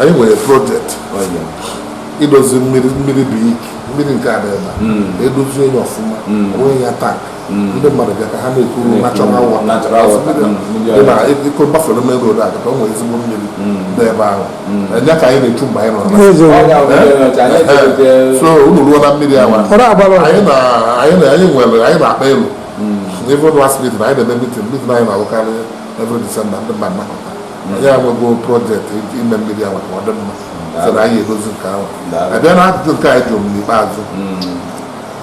anyị nwere projekti idozi mmiri mmiri bụ iki mmiri nke dị ebe a hmm. edozie nya ọfụma hmm. onweghị ya tank hmm. ndị mmadụ bịa ka ha na-ekuru natural water dị na iko gbafere main road a kata o nwere ezigbo mmiri dị ebe ahụ nya ka anyị na-echu mgbe anyị nọ so unu ruo na mmiri anwa anyị na anyị nwere anyị na-akpa elu even last mitin anyị na-eme mitin mitin anyị na-alụkarị every December ndị mmadụ nakọta anyị enwego project ime mmiri a maka ọdị mma so na anyị edozi nke ahụ abịa na ajụjụ nke ị jụrụ m n'ikpeazụ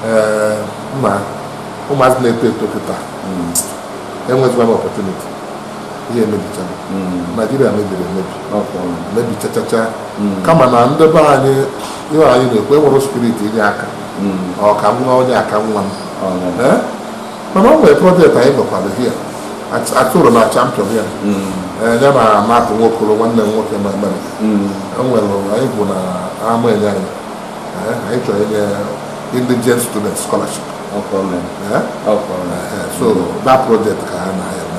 ee ma ụmụazị na-eto eto kịta enwezikwanụ opportunity ihe emebichara naijiria mebiri emebi mebichachacha kama na ndị be anyị ihe anyị na-ekwu enwere spirit inye aka ọ ka nwa onye aka nwa m Ee? mana o nwere project anyị nwekwara here atụrụ na champion ya eh, ya na Matthew nwokoro nwanne m nwoke na Amerịka enwere anyị bụ na Amaenye anyị Eh, anyị chọrọ inye indigent student scholarship Eh, eh, so that project ka ha na-eme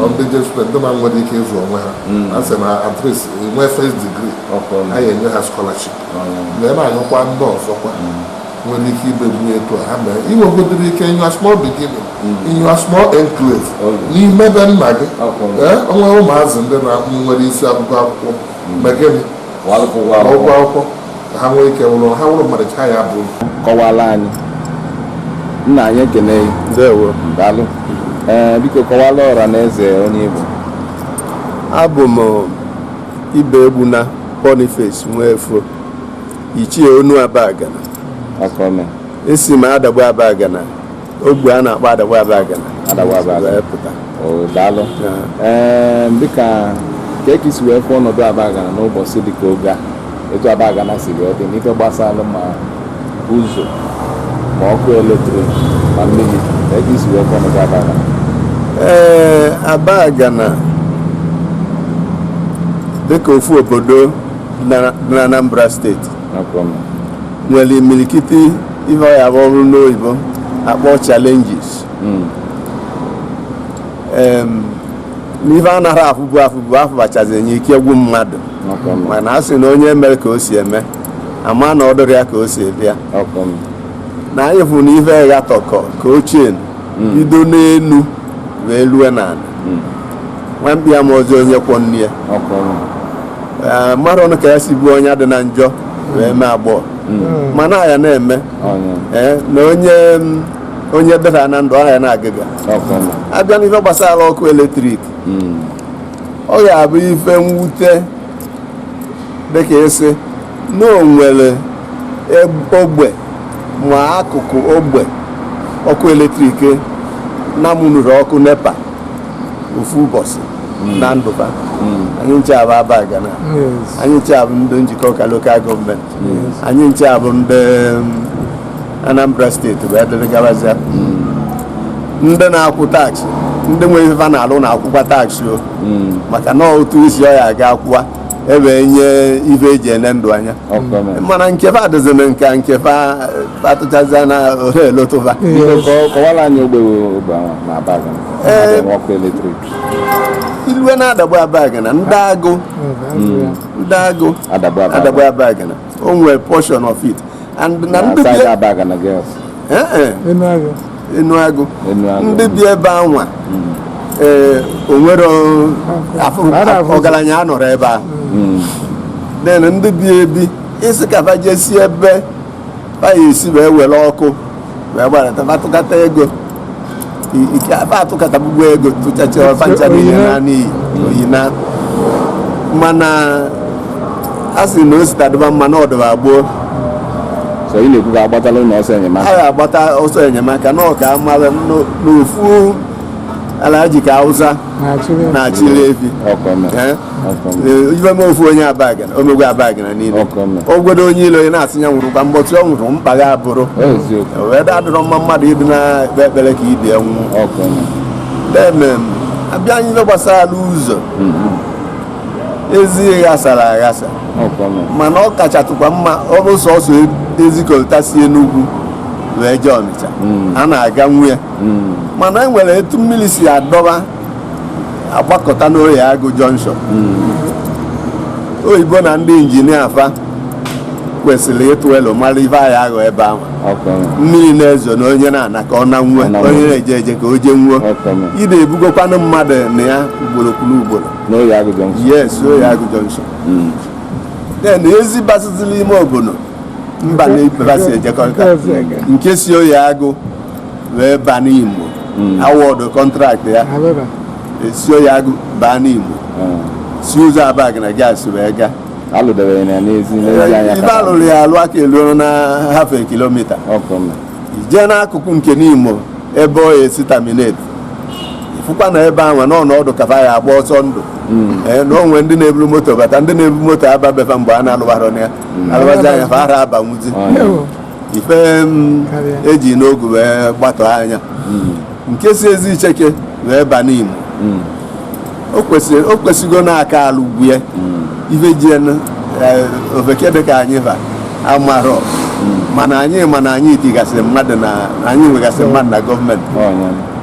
indigent student ndị ma nwere ike ịzụ onwe ha a sị na at least nwee first degree anyị enye ha scholarship wee na-ayọkwa ndị ọzọkwa nwere ike imebu etu a ha mee i nwegodiri ike in your small beginning in your small enclave n'ime be nna gị ee o nwere ụmụazị ndị na nwere isi akwụkwọ akwụkwọ ma gịnị Kwa alụkwụ ụgwọ ma ụgwọ akwụkwọ. akwụkwọ ka ha nwee ike wụrụ ha wụrụ mmadụ echi ya bụ kọwara anyị nna anyị ekene gị ndewo daalụ ee biko kọwara ọra na eze onye ị bụ abụ m ibe egbuna boniface Nwefo ichie onu abagana esi m Adagbe abagana ogbe a na-akpọ Adagbe abagana pụta daalụ dịka ka i si wee fụ ọnọdụ abagana n'ụbọchị dịka oge a etu abagana si wee dị n'ife gbasara ma ụzọ ma ọkụ eletrik ma mmiri ka i si wee fụ ọnọdụ abagana ee abagana dịka ofu obodo n'Anambra steeti nwere imirikiti ife ọ ya-abụ ọ bụrụ n'oyibo akpọọ challenges hmm. n'ife a nara afụbu afụbu afụbachazi enye ike gwụ mmadụ mana a sị na onye mere ka o si eme ama na ọ dịrị ya ka o si bịa na anyị fụrụ na ife gha tọkọ ka ochie hmm. bido n'elu wee lue n'ala hmm. nwa mkpi ama ọzọ onye kwọ nne ya Eh, mma dị ọnụ ka ya sị bụ onye adịna njọ wee mee agbọghọ hmm. mana ya na-eme eh, na onye mm, onye dara na ndụ ahịa na-aga aga abịa n'ife gbasara ọkụ eletrik hmm. ọ ga-abụ ife mwute dịka ịsị na o nwere ogbe ma akụkụ ogbe ọkụ eletrik na mụnụrụ ọkụ nepa ofu ụbọsị hmm. na ndụba hmm. anyị ncha bụ Abagana anyị ncha bụ ndị Njikọka lokal gọọmenti anyị ncha bụ ndị um, anambra steeti bụ dịrị gabazia ndị na-akwụ taksị ndị nwere ife na-alụ na-akwụkwa taksị o maka na ọ ụtụ isi a ya aga akwụwa e wee nye ife eji ele ndụ anya mana nke fa adịzina nke nke fa atụchazi na ole elotụva ilue na Adagbe Abagana ndị agụ ndị agụ Adagbe Abagana o nwere portion of it and na ndị bi side Abagana Girls. Eh, eh, enu agụ enu agụ Enu agụ. ndị bi ebe anwa ee onwere afụ- Ara afụ- ọgaranya anọrọ ebe ahụ Mm. then ndị bi ebi sị ka fa jesi ebe fa ya esi wee were ọkụ wee gbarata fa tụkata ego atụkatagbugbo ego tụchacha fa ncha niine naa n'iyi oyi na mana a sị na o si taa dịba mma na ọ dịba gboo so ị na-ekwu ka a gbatalụ ọsọ enyemaka a ga-agbata ọsọ enyemaka na ọ ka mara n'ofu Alhaji ka awụsa na-achịrị efi ọkụ eme. Eh? ife me ofu onye abagana o megwo abagana niile ogwedo onye ilo onye na-asị ya nwụrụ kwa mgbe ọ nwụrụ mkpagha abụrụ wee da adịrọ mma mmadụ ịdị na-ekpe ekpere ka ibe nwụọ then abịa n'ife gbasara ụzọ mm-hmm. ezi ghasara aghasa mana ọ kachatụkwa mma ọ bụ sọsọ ezi coal tar si enugwu wee jee ọnịcha mm. a na-aganwu ya mm. mana e nwere etu mmiri si adọba agbakọta n'oye agụ jọnshọn oyibo na ndị injinia fa kwesịrị ịtụle mara ife anyị aghọ ebe ahụ mmiri na-ezo na onye na-ana ka ọ nanwuo onye na-eje eje ka o jenwuo ide ebugokwanụ mmadụ na ya ugboro kwuru ugboro yes oye agụ jọnshọn hmm. then ezi basịzi n'ime obodo mba na ibe fa si ejekọta nke si oye agụ wee baa Nimo hmm. awọdụ kọntraktị ya esi oye agụ baa Nimo hmm. si ụzọ Abagana Girls wee gaa ebe alụrụ ya alụ aka eluo na half kilomita ijee n'akụkụ nke Nimo ebe ọ esi tamineti fụkwa na ebe ahụ na ọnọdụ ka fa ya agba ọsọ ndụ hmm. eh, na o nwe ndị na-eburu moto bata ndị na-ebu moto aba be fa mgbe a na-alụbara ya alụbazi anya fa ara abanwuzi ife eji n'ogu wee gbatọ anya nke si ezi icheke wee ba Nimo o kwesịgo na a ka-alụgwo ya ife ji eh, ofeke dị ka anyị ba amarọ mana anyị ma na anyị tigasịrị mmadụ na anyị nwegasịrị mmadụ na gọọmenti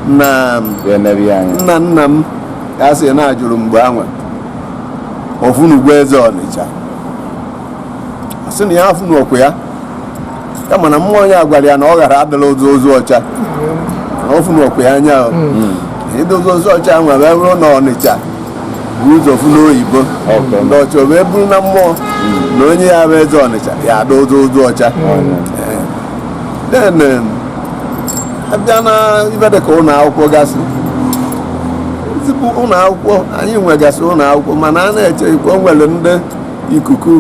nna nna nna m ka a sị na a jụrụ mgbe anwa ọ fụnụgwo eze ọnịcha ọ sị na ya afụnụọkwa ya ya mana mmụọ ya gwara ya na ọ ghara adịla ozu ozu ọcha na ọ fụnụọkwa ya anya idozi ozu ọcha nwa wee ruo na ọnịcha bu ụzọ fụ n'oyibo ndị ọcha o wee bụrụ na mmụọ na onye ya-abụ eze ọnịcha ya-adị ozu ozu ọcha then um, abịa na ibe dị ka ụlọ akwụkwọ gasị ezigbo ụlọ akwụkwọ anyị nwegasị ụlọ akwụkwọ mana a na-eche ikpe o nwere ndị ikuku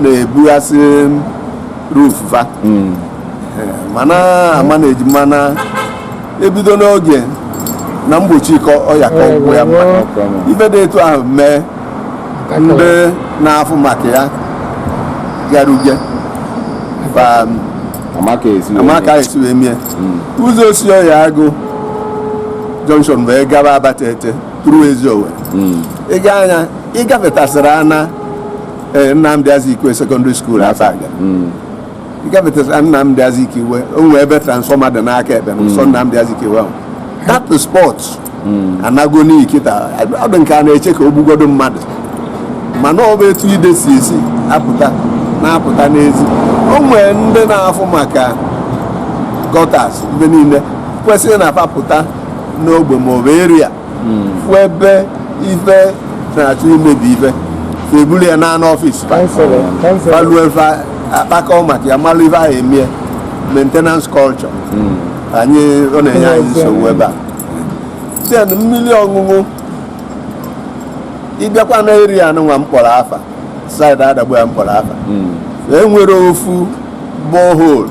na-ebughasị roof fa hmm. eh, mana a ma na-eji mana ebido n'oge na mgbochi ịkọ ọya ka ọgwụ ya mma ife dị etu ahụ mee ndị na-afụ maka ya gara uge a ma ka e si wee mie ụzọ o si Oyeagụ junction wee gaba Abatete ruo Eziowelle hmm. ị gaa anya ịgafetasịrị ana e, Nnamdị Azikiwe sekọndịrị skuul Abagana hmm. ịgafetasịrị Nnamdị Azikiwe o nwee ebe transfọma dị n'aka ekpe n'ụsọ hmm. Nnamdị Azikiwe ahụ that spot anago n'ikita ọ dị nke a na-eche ka o gbugodo mmadụ mana ọ bụ etu ide si esi apụta na-apụta n'ezi o nwee ndị na-afụ maka gọtas mgbe niile kwesịrị na-apụta n'ogbe ma ọ bụ eria hmm. fụ ebe ife na-achọ imebi ife eburu ya naa n'ọfịs fa lue fa akpakọ maka ya malụ ife a ya-emie maintenance culture hmm. anyị ọ na-enye anyị nsogbu ebe a then mmiri ọṅụṅụ ịbịakwa na eria anụnwa m kpọrọ afa saịdị Adagbe ya m kpọrọ afa hmm. enwere ofu borehole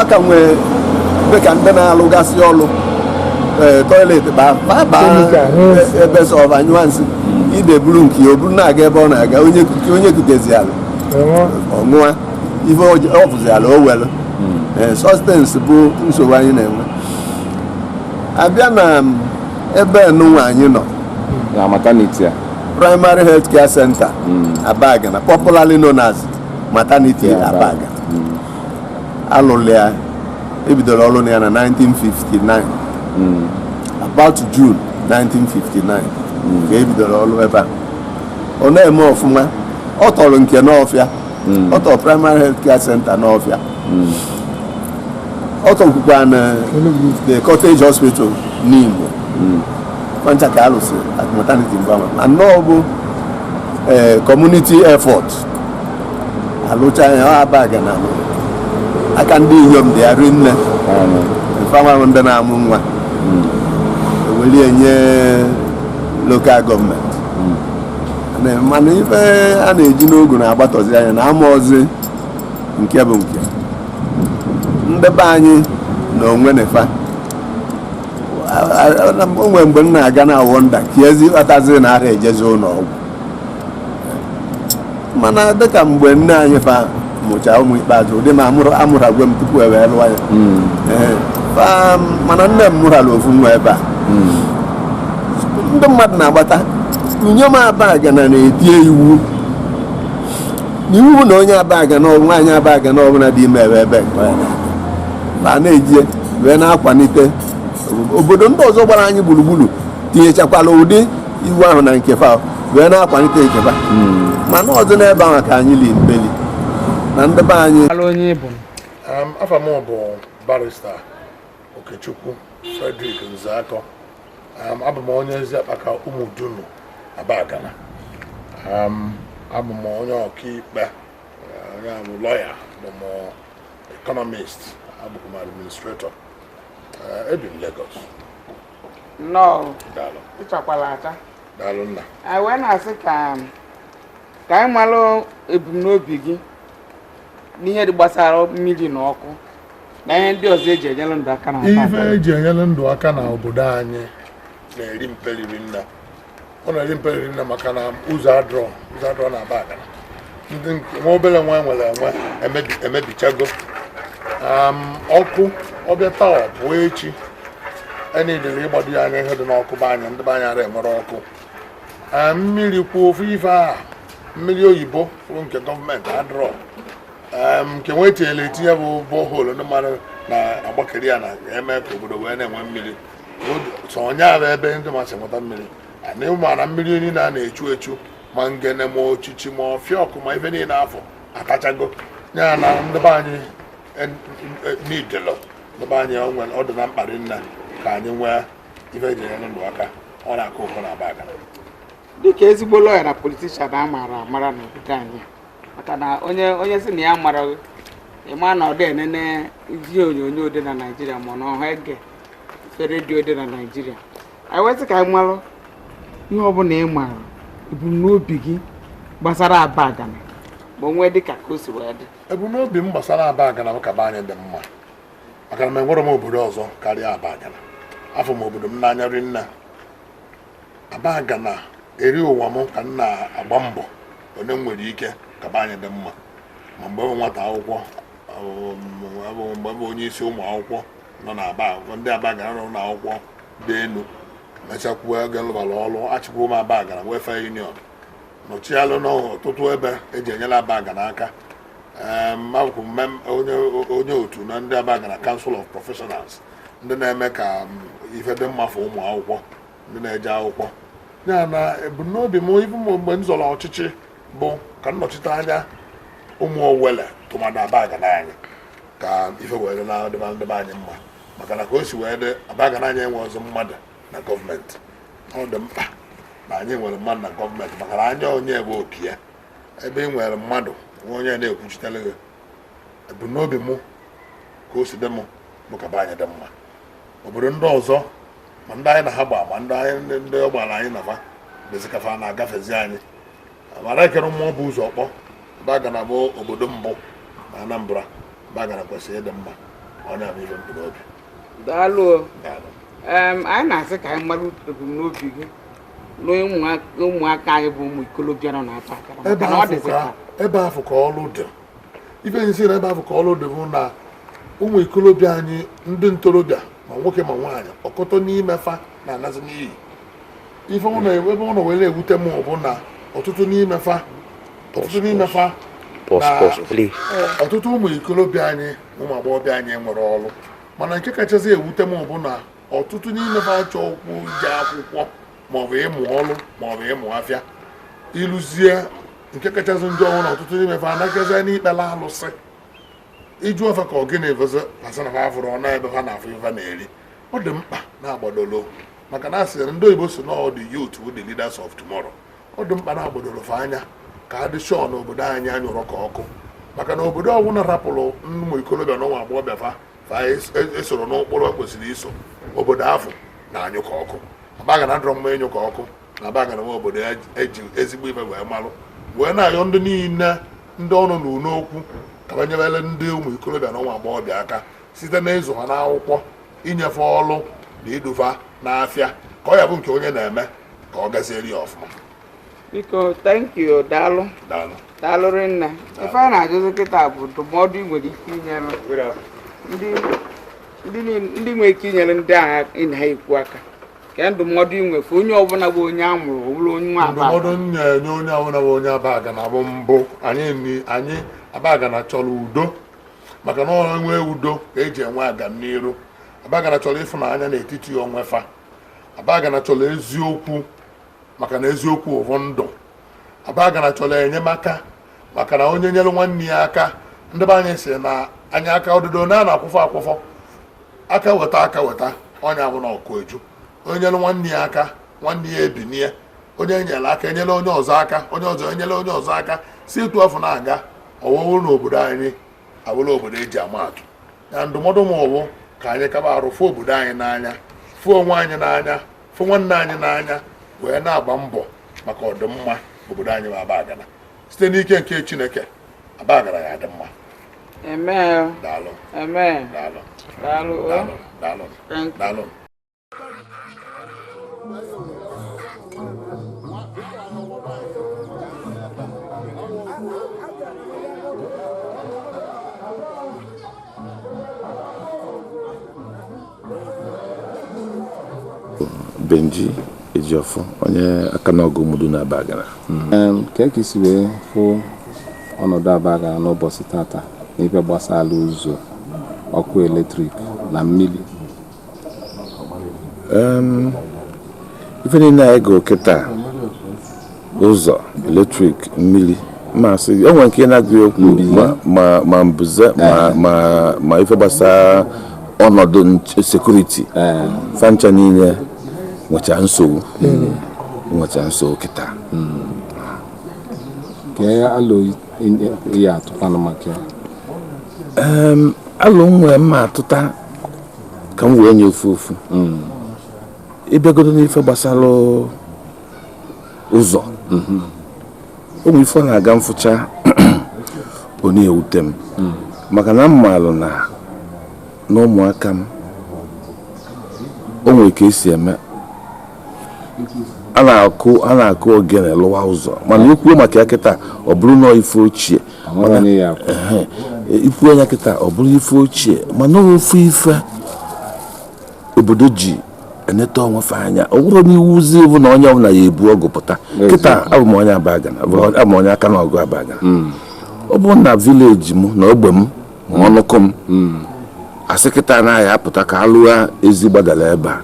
a ka nwee dị ka ndị na-alụgasị ọlụ ee, tọiletị baa baa baa Kemikal, n'ezi. e- ebe sọ va nyụọ nsị ide buru nke ya o buru na-aga ebe ọ na-aga onye kute- onye kutezi ala Enwe. ọṅụa ife ọjọ- ọ bụzi ala o were such things bụ nsogbu anyị na-enwe abịa na m, ebe nụnwa anyị nọ na mataniti a primary health care center Abagana popularly known as maternity Yeah, abaga alụrụ ya ebidoro ọrụ na ya na 1959 hmm. about June 1959 hmm. ka ebidoro ọrụ ebe a ọ na-eme ọfụma ọ tọrọ nke Nawfia hmm. ọ tọrọ primary health care center Nawfia ọ tọkwukwa na the cottage hospital Nimo fa ncha ka alụsị at maternity mgbanwe anọ bụ eh, community effort alụcha ya ọ Abagana amụ aka ndị inyom dị arị nne m fanwa ndị na-amụ nwa eweli enye local government Na- mana ife a na-eji n'ogu na-agbatọzi anya na amarọzi nke bụ nke ndị be anyị na onwe nefa o nwere mgbe m na-aga na-awonder kezi kpatazi na ara ejezi ụnọ ọgwụ mana dịka mgbe nne anyị fa mụcha ụmụ ikpeazụ ụdị ma amụrụ amụrụgo m tupu e wee lụọ ya hmm. eh, mana nne m mụrala ofu nwa ebe a hmm. ndị mmadụ na-agbata inyom Abagana na-etie iwu n'iwu na onye Abagana or nwaanyị Abagana ọbụla dị ime ebe ebe nke ya na na-eji wee na-akwalite obodo ndị ọzọ gbara anyị gburugburu tinyechakwala ụdị iwu ahụ na nke fa wee na-akwalite nke fa hmm. mana ọ bụ n'ebe ahụ ka anyị li mbeli na ndị be anyị afa m bụ barrister Okechukwu Frederick Nzeakọ abụ m onye Eziakpaka Umudunu Abagana abụ m onye ọkaikpe nya bụ lawyer abụ m economist abụkwa m administrator ebi m Lagos nnọọ ịchakwala acha anyị wee na-asị ka ka anyị malụ ebumnobi gị n'ihe dị gbasara mmiri na ọkụ na ihe ndị ọzọ eji enyere ndụ aka na ife eji enyere ndụ aka na obodo anyị na-eri mperi rinne ọ na-eri mperi rinne maka na ụzọ adịrọ ụzọ adịrọ na Abagana ndị nwa obere nwa nwere enwe emebichago ọkụ ọ bịa taa pụọ echi e needịrị ịgbado ya anya ihe dị n'ọkụ be anyị ndị be anyị ara enwere ọkụ mmiri kwuo ofu ife a mmiri oyibo nke government adịrọ nke nwa etinyere etinye bụ borehole ndị mmadụ na-agbakeri ya na-eme ka obodo wee na-enwe mmiri sọnyara ebe ndị masị nweta mmiri anyị maara mmiri niile a na-echu echu ma ngene ma ochichi ma ọfịa ọkụ ma ife niile afọ atachago ya na ndị be anyị e, e, n'idelo ndị be anyị ọ dị na mkpa ri nna ka anyị nwee ife eji enyere ndụ aka ọ na-akọ ụkọ na abagana dịka ezigbo lọya na politishan a maara amara n'obodo anyị maka na onye onye sị na ya mara ịma na ọ dị enene ihe onyonyo dị na naijiria ma ọ na ọha ege redio dị na naijiria anyị wee sị ka anyị malụ ihe ọbụla ị maara ebumnobi gị gbasara abagana ma onwe dị ka ka o si wee dị ebumnobi m gbasara abagana bụ ka be anyị dị mma maka na m enwerọ m obodo ọzọ karịa abagana afụ m obodo m n'anya ri nna abagana eri ụwa m ka m na-agba mbọ one m nwere ike ka be anyị dị mma ma mgbe m bụ nwata akwụkwọ m bụ onye isi ụmụ akwụkwọ nọ na aba ndị abagana nọ na akwụkwọ dị elu mechakwuo ego lụbara ọrụ achịkwa m abagana welfare union nọchialụ n'ọtụtụ ebe eji enyelụ abagana aka m bụkwu onye otu na ndị abagana council of professionals ndị na-eme ka ife dị mma for ụmụ akwụkwọ ndị na-eje akwụkwọ ya na ebumnobi m bu mgbe m zọrọ ọchịchị bụ ka m nọchite anya ụmụ owele tụmadụ abagana anyị ka ife wee na-adịba ndị be anyị mma maka na ka o si wee dị abagana anyị enwerọzị mmadụ na gọọmenti ọ dị mkpa na anyị nwere mmadụ na gọọmenti maka na anya onye bụ oke ya ebe ị nwerọ mmadụ nwa onye na-ekwuchitere gị ebumnobi mụ ka o si dị mụ bụ ka be anyị dị mma obodo ndị ọzọ ma ndị anyị na ha gba ma ndị anyị ndị ọ gbara anyị na fa bezikafa na-agafezi anyị a mara ekere mmụọ bụ ụzọ ọkpọ abagana bụ obodo mbụ na anambra abagana kwesịrị ịdị mma ọ nya bụ ihe m bu n'obi daalụ anyị na-asị ka anyị mara ebumnobi gị n'ụmụaka anyị bụ ụmụ ikolobịa nọ n'abagana ebe afụ ka ọlụ dị ife m ji sị na ebe afụ ka ọlụ dị bụ na ụmụ ikolobịa anyị ndị ntorobịa ma nwoke ma nwaanyị ọkọtọ n'ime fa na-anazi n'iyi ife ebe ọ na were ewute m bụ na ọtụtụ n'ime fa ọtụtụ n'ime fa ọtụtụ ụmụ ikolobịa anyị ụmụ agbọghọbịa anyị enwerọ ọrụ mana nke kachasị ewute m bụ na ọtụtụ n'ime fa achọrọkwu ije akwụkwọ maọbụ ịmụ ọrụ maọbụ ịmụ afịa i luzie nke kachasị njọ bụ na ọtụtụ n'ime fa anaazi n'ikpere alụsị ịjụ ọfa ka ọ gịnị bụzi asị na ha fụrụ ọnụ ebe ha na-afụ ife na-eri ọ dị mkpa na-agbadolo maka na asị ndị oyibo si na the youth wụ the leaders of tomorrow ọ dị mkpa na agbadolo fa anya ka a dị sure na obodo anyị anyụrọ ka ọkụ maka na obodo ọbụla rapụrụ ụmụ ikolobịa na ụmụ agbọghọbịa fa fa esoro n'ụkpụrụ kwesịrị iso obodo afụ na-anyụ ka ọkụ abagana adọrọ mma ịnyụ ka ọkụ na abagana wụ obodo eji ezigbo ife wee malụ wee na-ayọ ndị niile ndị ọnụ na-elu n'okwu ka fa nyebele ndị ụmụ ikorobịa na ụmụ agbọghọbịa aka site na ịzụ ha n'akwụkwọ inye fa ọlụ na idu fa n'afịa ka ọ ya-abụ nke onye na-eme ka ọ gaziere ya ọfụma biko thank you daalụ daalụ daalụ rinne ife a na-ajụzi kịta bụ ndụmọdụ ị nwere ike inyere ndị ndị niile- ndị nwere ike inyere ndị a ị na ha ekwu aka kee ndụmọdụ ị nwere onye ọbụla bụ onye a mụrụ ọ bụrụ onye nwa ndụmọdụ m na-enye onye ọbụla bụ onye abagana bụ mbụ anyị anyị abagana chọrọ udo maka na ọ nwee udo ka eji enwe agamniru abagana chọrọ ịfụnanya n'etiti onwe fa abagana chọrọ eziokwu maka na eziokwu bụ ndụ abagana chọrọ enyemaka maka na onye nyere nwanne ya aka ndị be anyị sị na anya aka ọdụdụ na a na-akwụfọ akwụfọ aka weta aka weta ọ nya bụ na ọkụ eju onye nyere nwanne ya aka nwanne ya ebinie onye enyere aka enyere onye ọzọ aka onye ọzọ enyere onye ọzọ aka si etu afụ na-aga ọ wụrụ na obodo anyị abụla obodo eji ama atụ ya ndụmọdụ m bụ ka anyị kaba arụ fụ obodo anyị n'anya fụ onwe anyị n'anya fụ nwanne anyị n'anya wee na-agba mbọ maka ọdịmma obodo anyị bụ abagana site n'ike nke chineke abagana ya-adị mma daalụ daalụ daalụ daalụ daalụ Benji Ejiofor onye Akanogu Umudunu Abagana hmm. kee ka i si wee fụ ọnọdụ Abagana n'ụbọsị tata n'ife gbasara ụzọ ọkụ eletrik na mmiri ife niile a ị gụ kịta ụzọ eletrik mmiri ma sị enwere nke na-agụ okwu ma mbuze ma ife gbasara ọnọdụ security fa ncha niile nwecha nsogbu nwecha nsogbu kịta alụ nwere mma atụta ka m wee nya ofu ofu ị bịagodo n'ife gbasara ụzọ mhm. ụmụ ife na-aga mfụcha ọ na-ewute m mhm. maka na m maalụ na n'ụmụaka m o nwere ka esi eme a na-akụ a na-akụ ogene lụwa ụzọ mana ikwuo maka ya kịta ọ bụrụ na ife ochie ikwuo ya kịta ọ bụrụ ife ochie mana ofu ife obodo ji eneta onwe fa anya ọ bụrụ na iwuzi bụ na onye ọbụla ya ebu ọgụ pụta kịta abụ m onye abagana bụ onye- abụ m onye akanọgụ abagana ọ bụ na vileji m na ogbe m ma ọnụkụ m asị kịta na a ya-apụta ka alụa ezi gbadara ebe a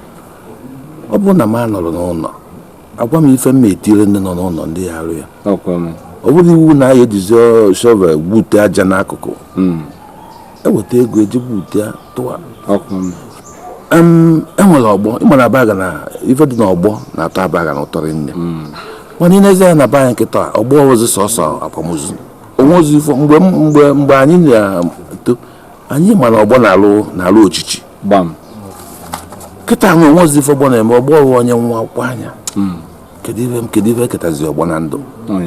ọ bụrụ na m anọrọ n'ụlọ agwa m ife m etinyere ndị nọ n'ụlọ ndị ya arụ ya ọkwa m ọ bụrụ iwu na a ya-ejizi shovel gbute aja n'akụkụ eweta ego eji bute ya tụwa enwere ọgbọ ịma na abagana ife dị n'ọgbọ na-atọ abagana ụtọ rinne hmm. mana ịnezi ya na be anyị kịta ọgbọ bụzi sọsọ akwamozu o nwerozi ife mgbe mgbe mgbe anyị na-eto anyị ma na ọgbọ na-alụ na-alụ ọchịchị gbam kịta nwe o nwerozi ife ọgbọ na-eme ọgbọ ọrụ onye nwụa akwụkwọ anya hmm. kedu ife kedu ife eketazi ọgbọ na ndụ oh,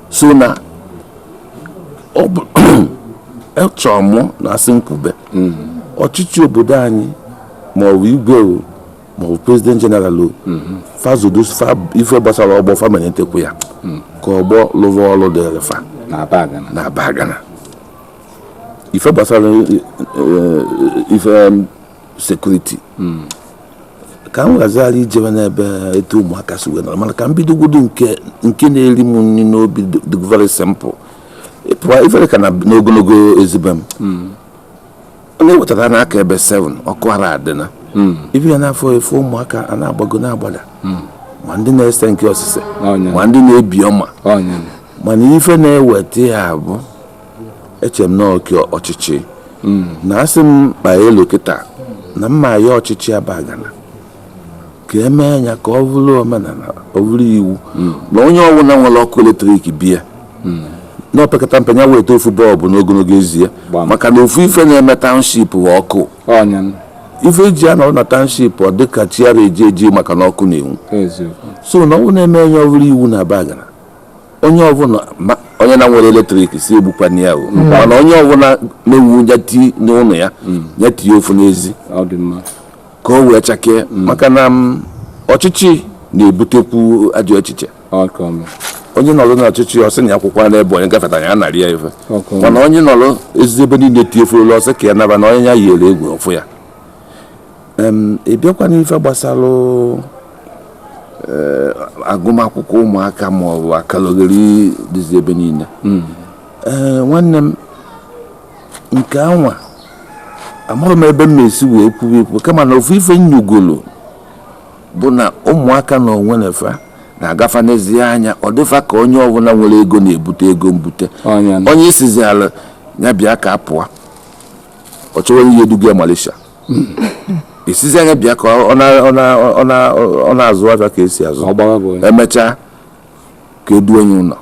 so na echọọ mụ na asị m kwube ọchịchị obodo anyị maọbụ igwe o maọbụ prezident jeneral o fa zodo fa ife gbasara ọgbọ fa malitekwu ya ka ọgbọ lụwa ọrụ dịrị fa na abagana na abagana ife gbasara eh, eh, ife sekuriti ka m ghazara ijebe n'ebe etu ụmụaka si wee nọrọ mana ka m bidogodo nke nke na-eri m nri n'obi dị- dị very simple ịpụwa ife dịka na n'ogologo ezi be m ọ na-ewetara n'aka ebe 7 ọkụ ara adị na ị bịa na-afụ ife ụmụaka a na-agbago na-agbada ma ndị na-ese nke osise ọ nya. ma ndị na-ebi ọma ọ nya mana ife na-eweta ya bụ eche m na oke ọchịchị hmm. na asị m kpaa alo kịta na m ma-ayọ ọchịchị abagana ka emee ya ka ọ bụrụ omenala ọ bụrụ iwu hmm. na onye ọbụla nwere ọkụ eletrik bịa hmm. na opekata mpe ya weta ofu bọlbụ n'ogologo ezi ya maka na ofu ife na-eme taụnship ọkụ ife eji anọrọ na taụnship ọ dịka chi ara eji eji maka na ọkụ na-enwu so na ọ bụ na emee ya ọ bụrụ iwu na abagana onye ọbụla onye na-enwerọ eletrik sị egbukwana ya o mm. mana onye ọbụla nwe nya tii n'ụlọ ya nya tii mm. ya ofu n'ezi ka o wee chakee mm. maka na ọchịchị na-ebutekwu ajọ echiche onye nọrọ n'ọchịchị ọ sị nya kwụkwuo na ebe onye gafeta ya narị ya ife mana onye nọrọ ezi ebe niile tiefuru ọ sị ka ya naba na onye ya yiere egwu ọ fụ ya ị bịakwa n'ife gbasara eh, agụmakwụkwọ ụmụaka ma ọ bụ akalogheri dịzi ebe niile hmm. eh, nwanne m nke anwa amaghị m ebe m na-esi wee kwuo okwu kama na ofu ife nnyugolo bụ na ụmụaka na onwe fa na-aga fa nezie anya ọ dị fa ka onye ọbụla nwere ego na-ebute ego mbute onye ị sịziala ya bịa ka a pụọ ọ chọwa onye duga ya Malaysia ị sịzi ya bịa ka ọ na- ọ na- ọ na- ọ na-azụ afịa ka e si azụ ọ gbara bọyị emechaa ka e duo ya ụlọ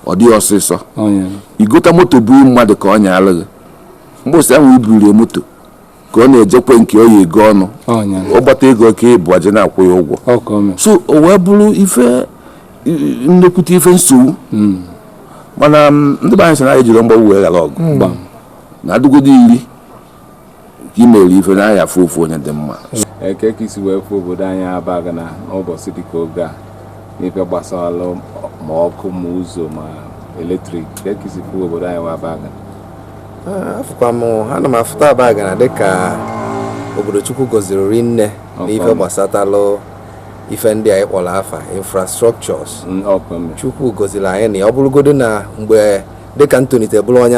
ọ dịghị ọsịsọ onye i gota moto bunye mmadụ ka ọ nyaara gị mbọsị ahụ i bunye moto ka ọ na-eje ekwe nke ọ ya-ego ọnụ onye ọ gbata ego ka ọ bịa eji na-akwụ ya ụgwọ ọka ome so o wee bụrụ ife i- i- nnekwute ife nsogbu mana ndị be anyị sị na anyị ejirọ mgbagbu wee ghara ọgụ na a dịgodo iri nke i mere ife na a ya-afụ ofu onye dị mma kee ka i si wee fụ obodo anyị Abagana n'ụbọchị dịka oge a n'ife gbasara ma ọkụ ma ụzọ ma eletrik kee ka i si fụ obodo anyị wa Abagana afụkwa m ana m afụta Abagana dịka obodo chukwu gọziri rinne n'ife gbasatalụ ife ndị anyị kpọrọ afa infrastructures chukwu gọziri anyị na ya ọ bụrụgodo na mgbe dịka m tolite bụrụ onye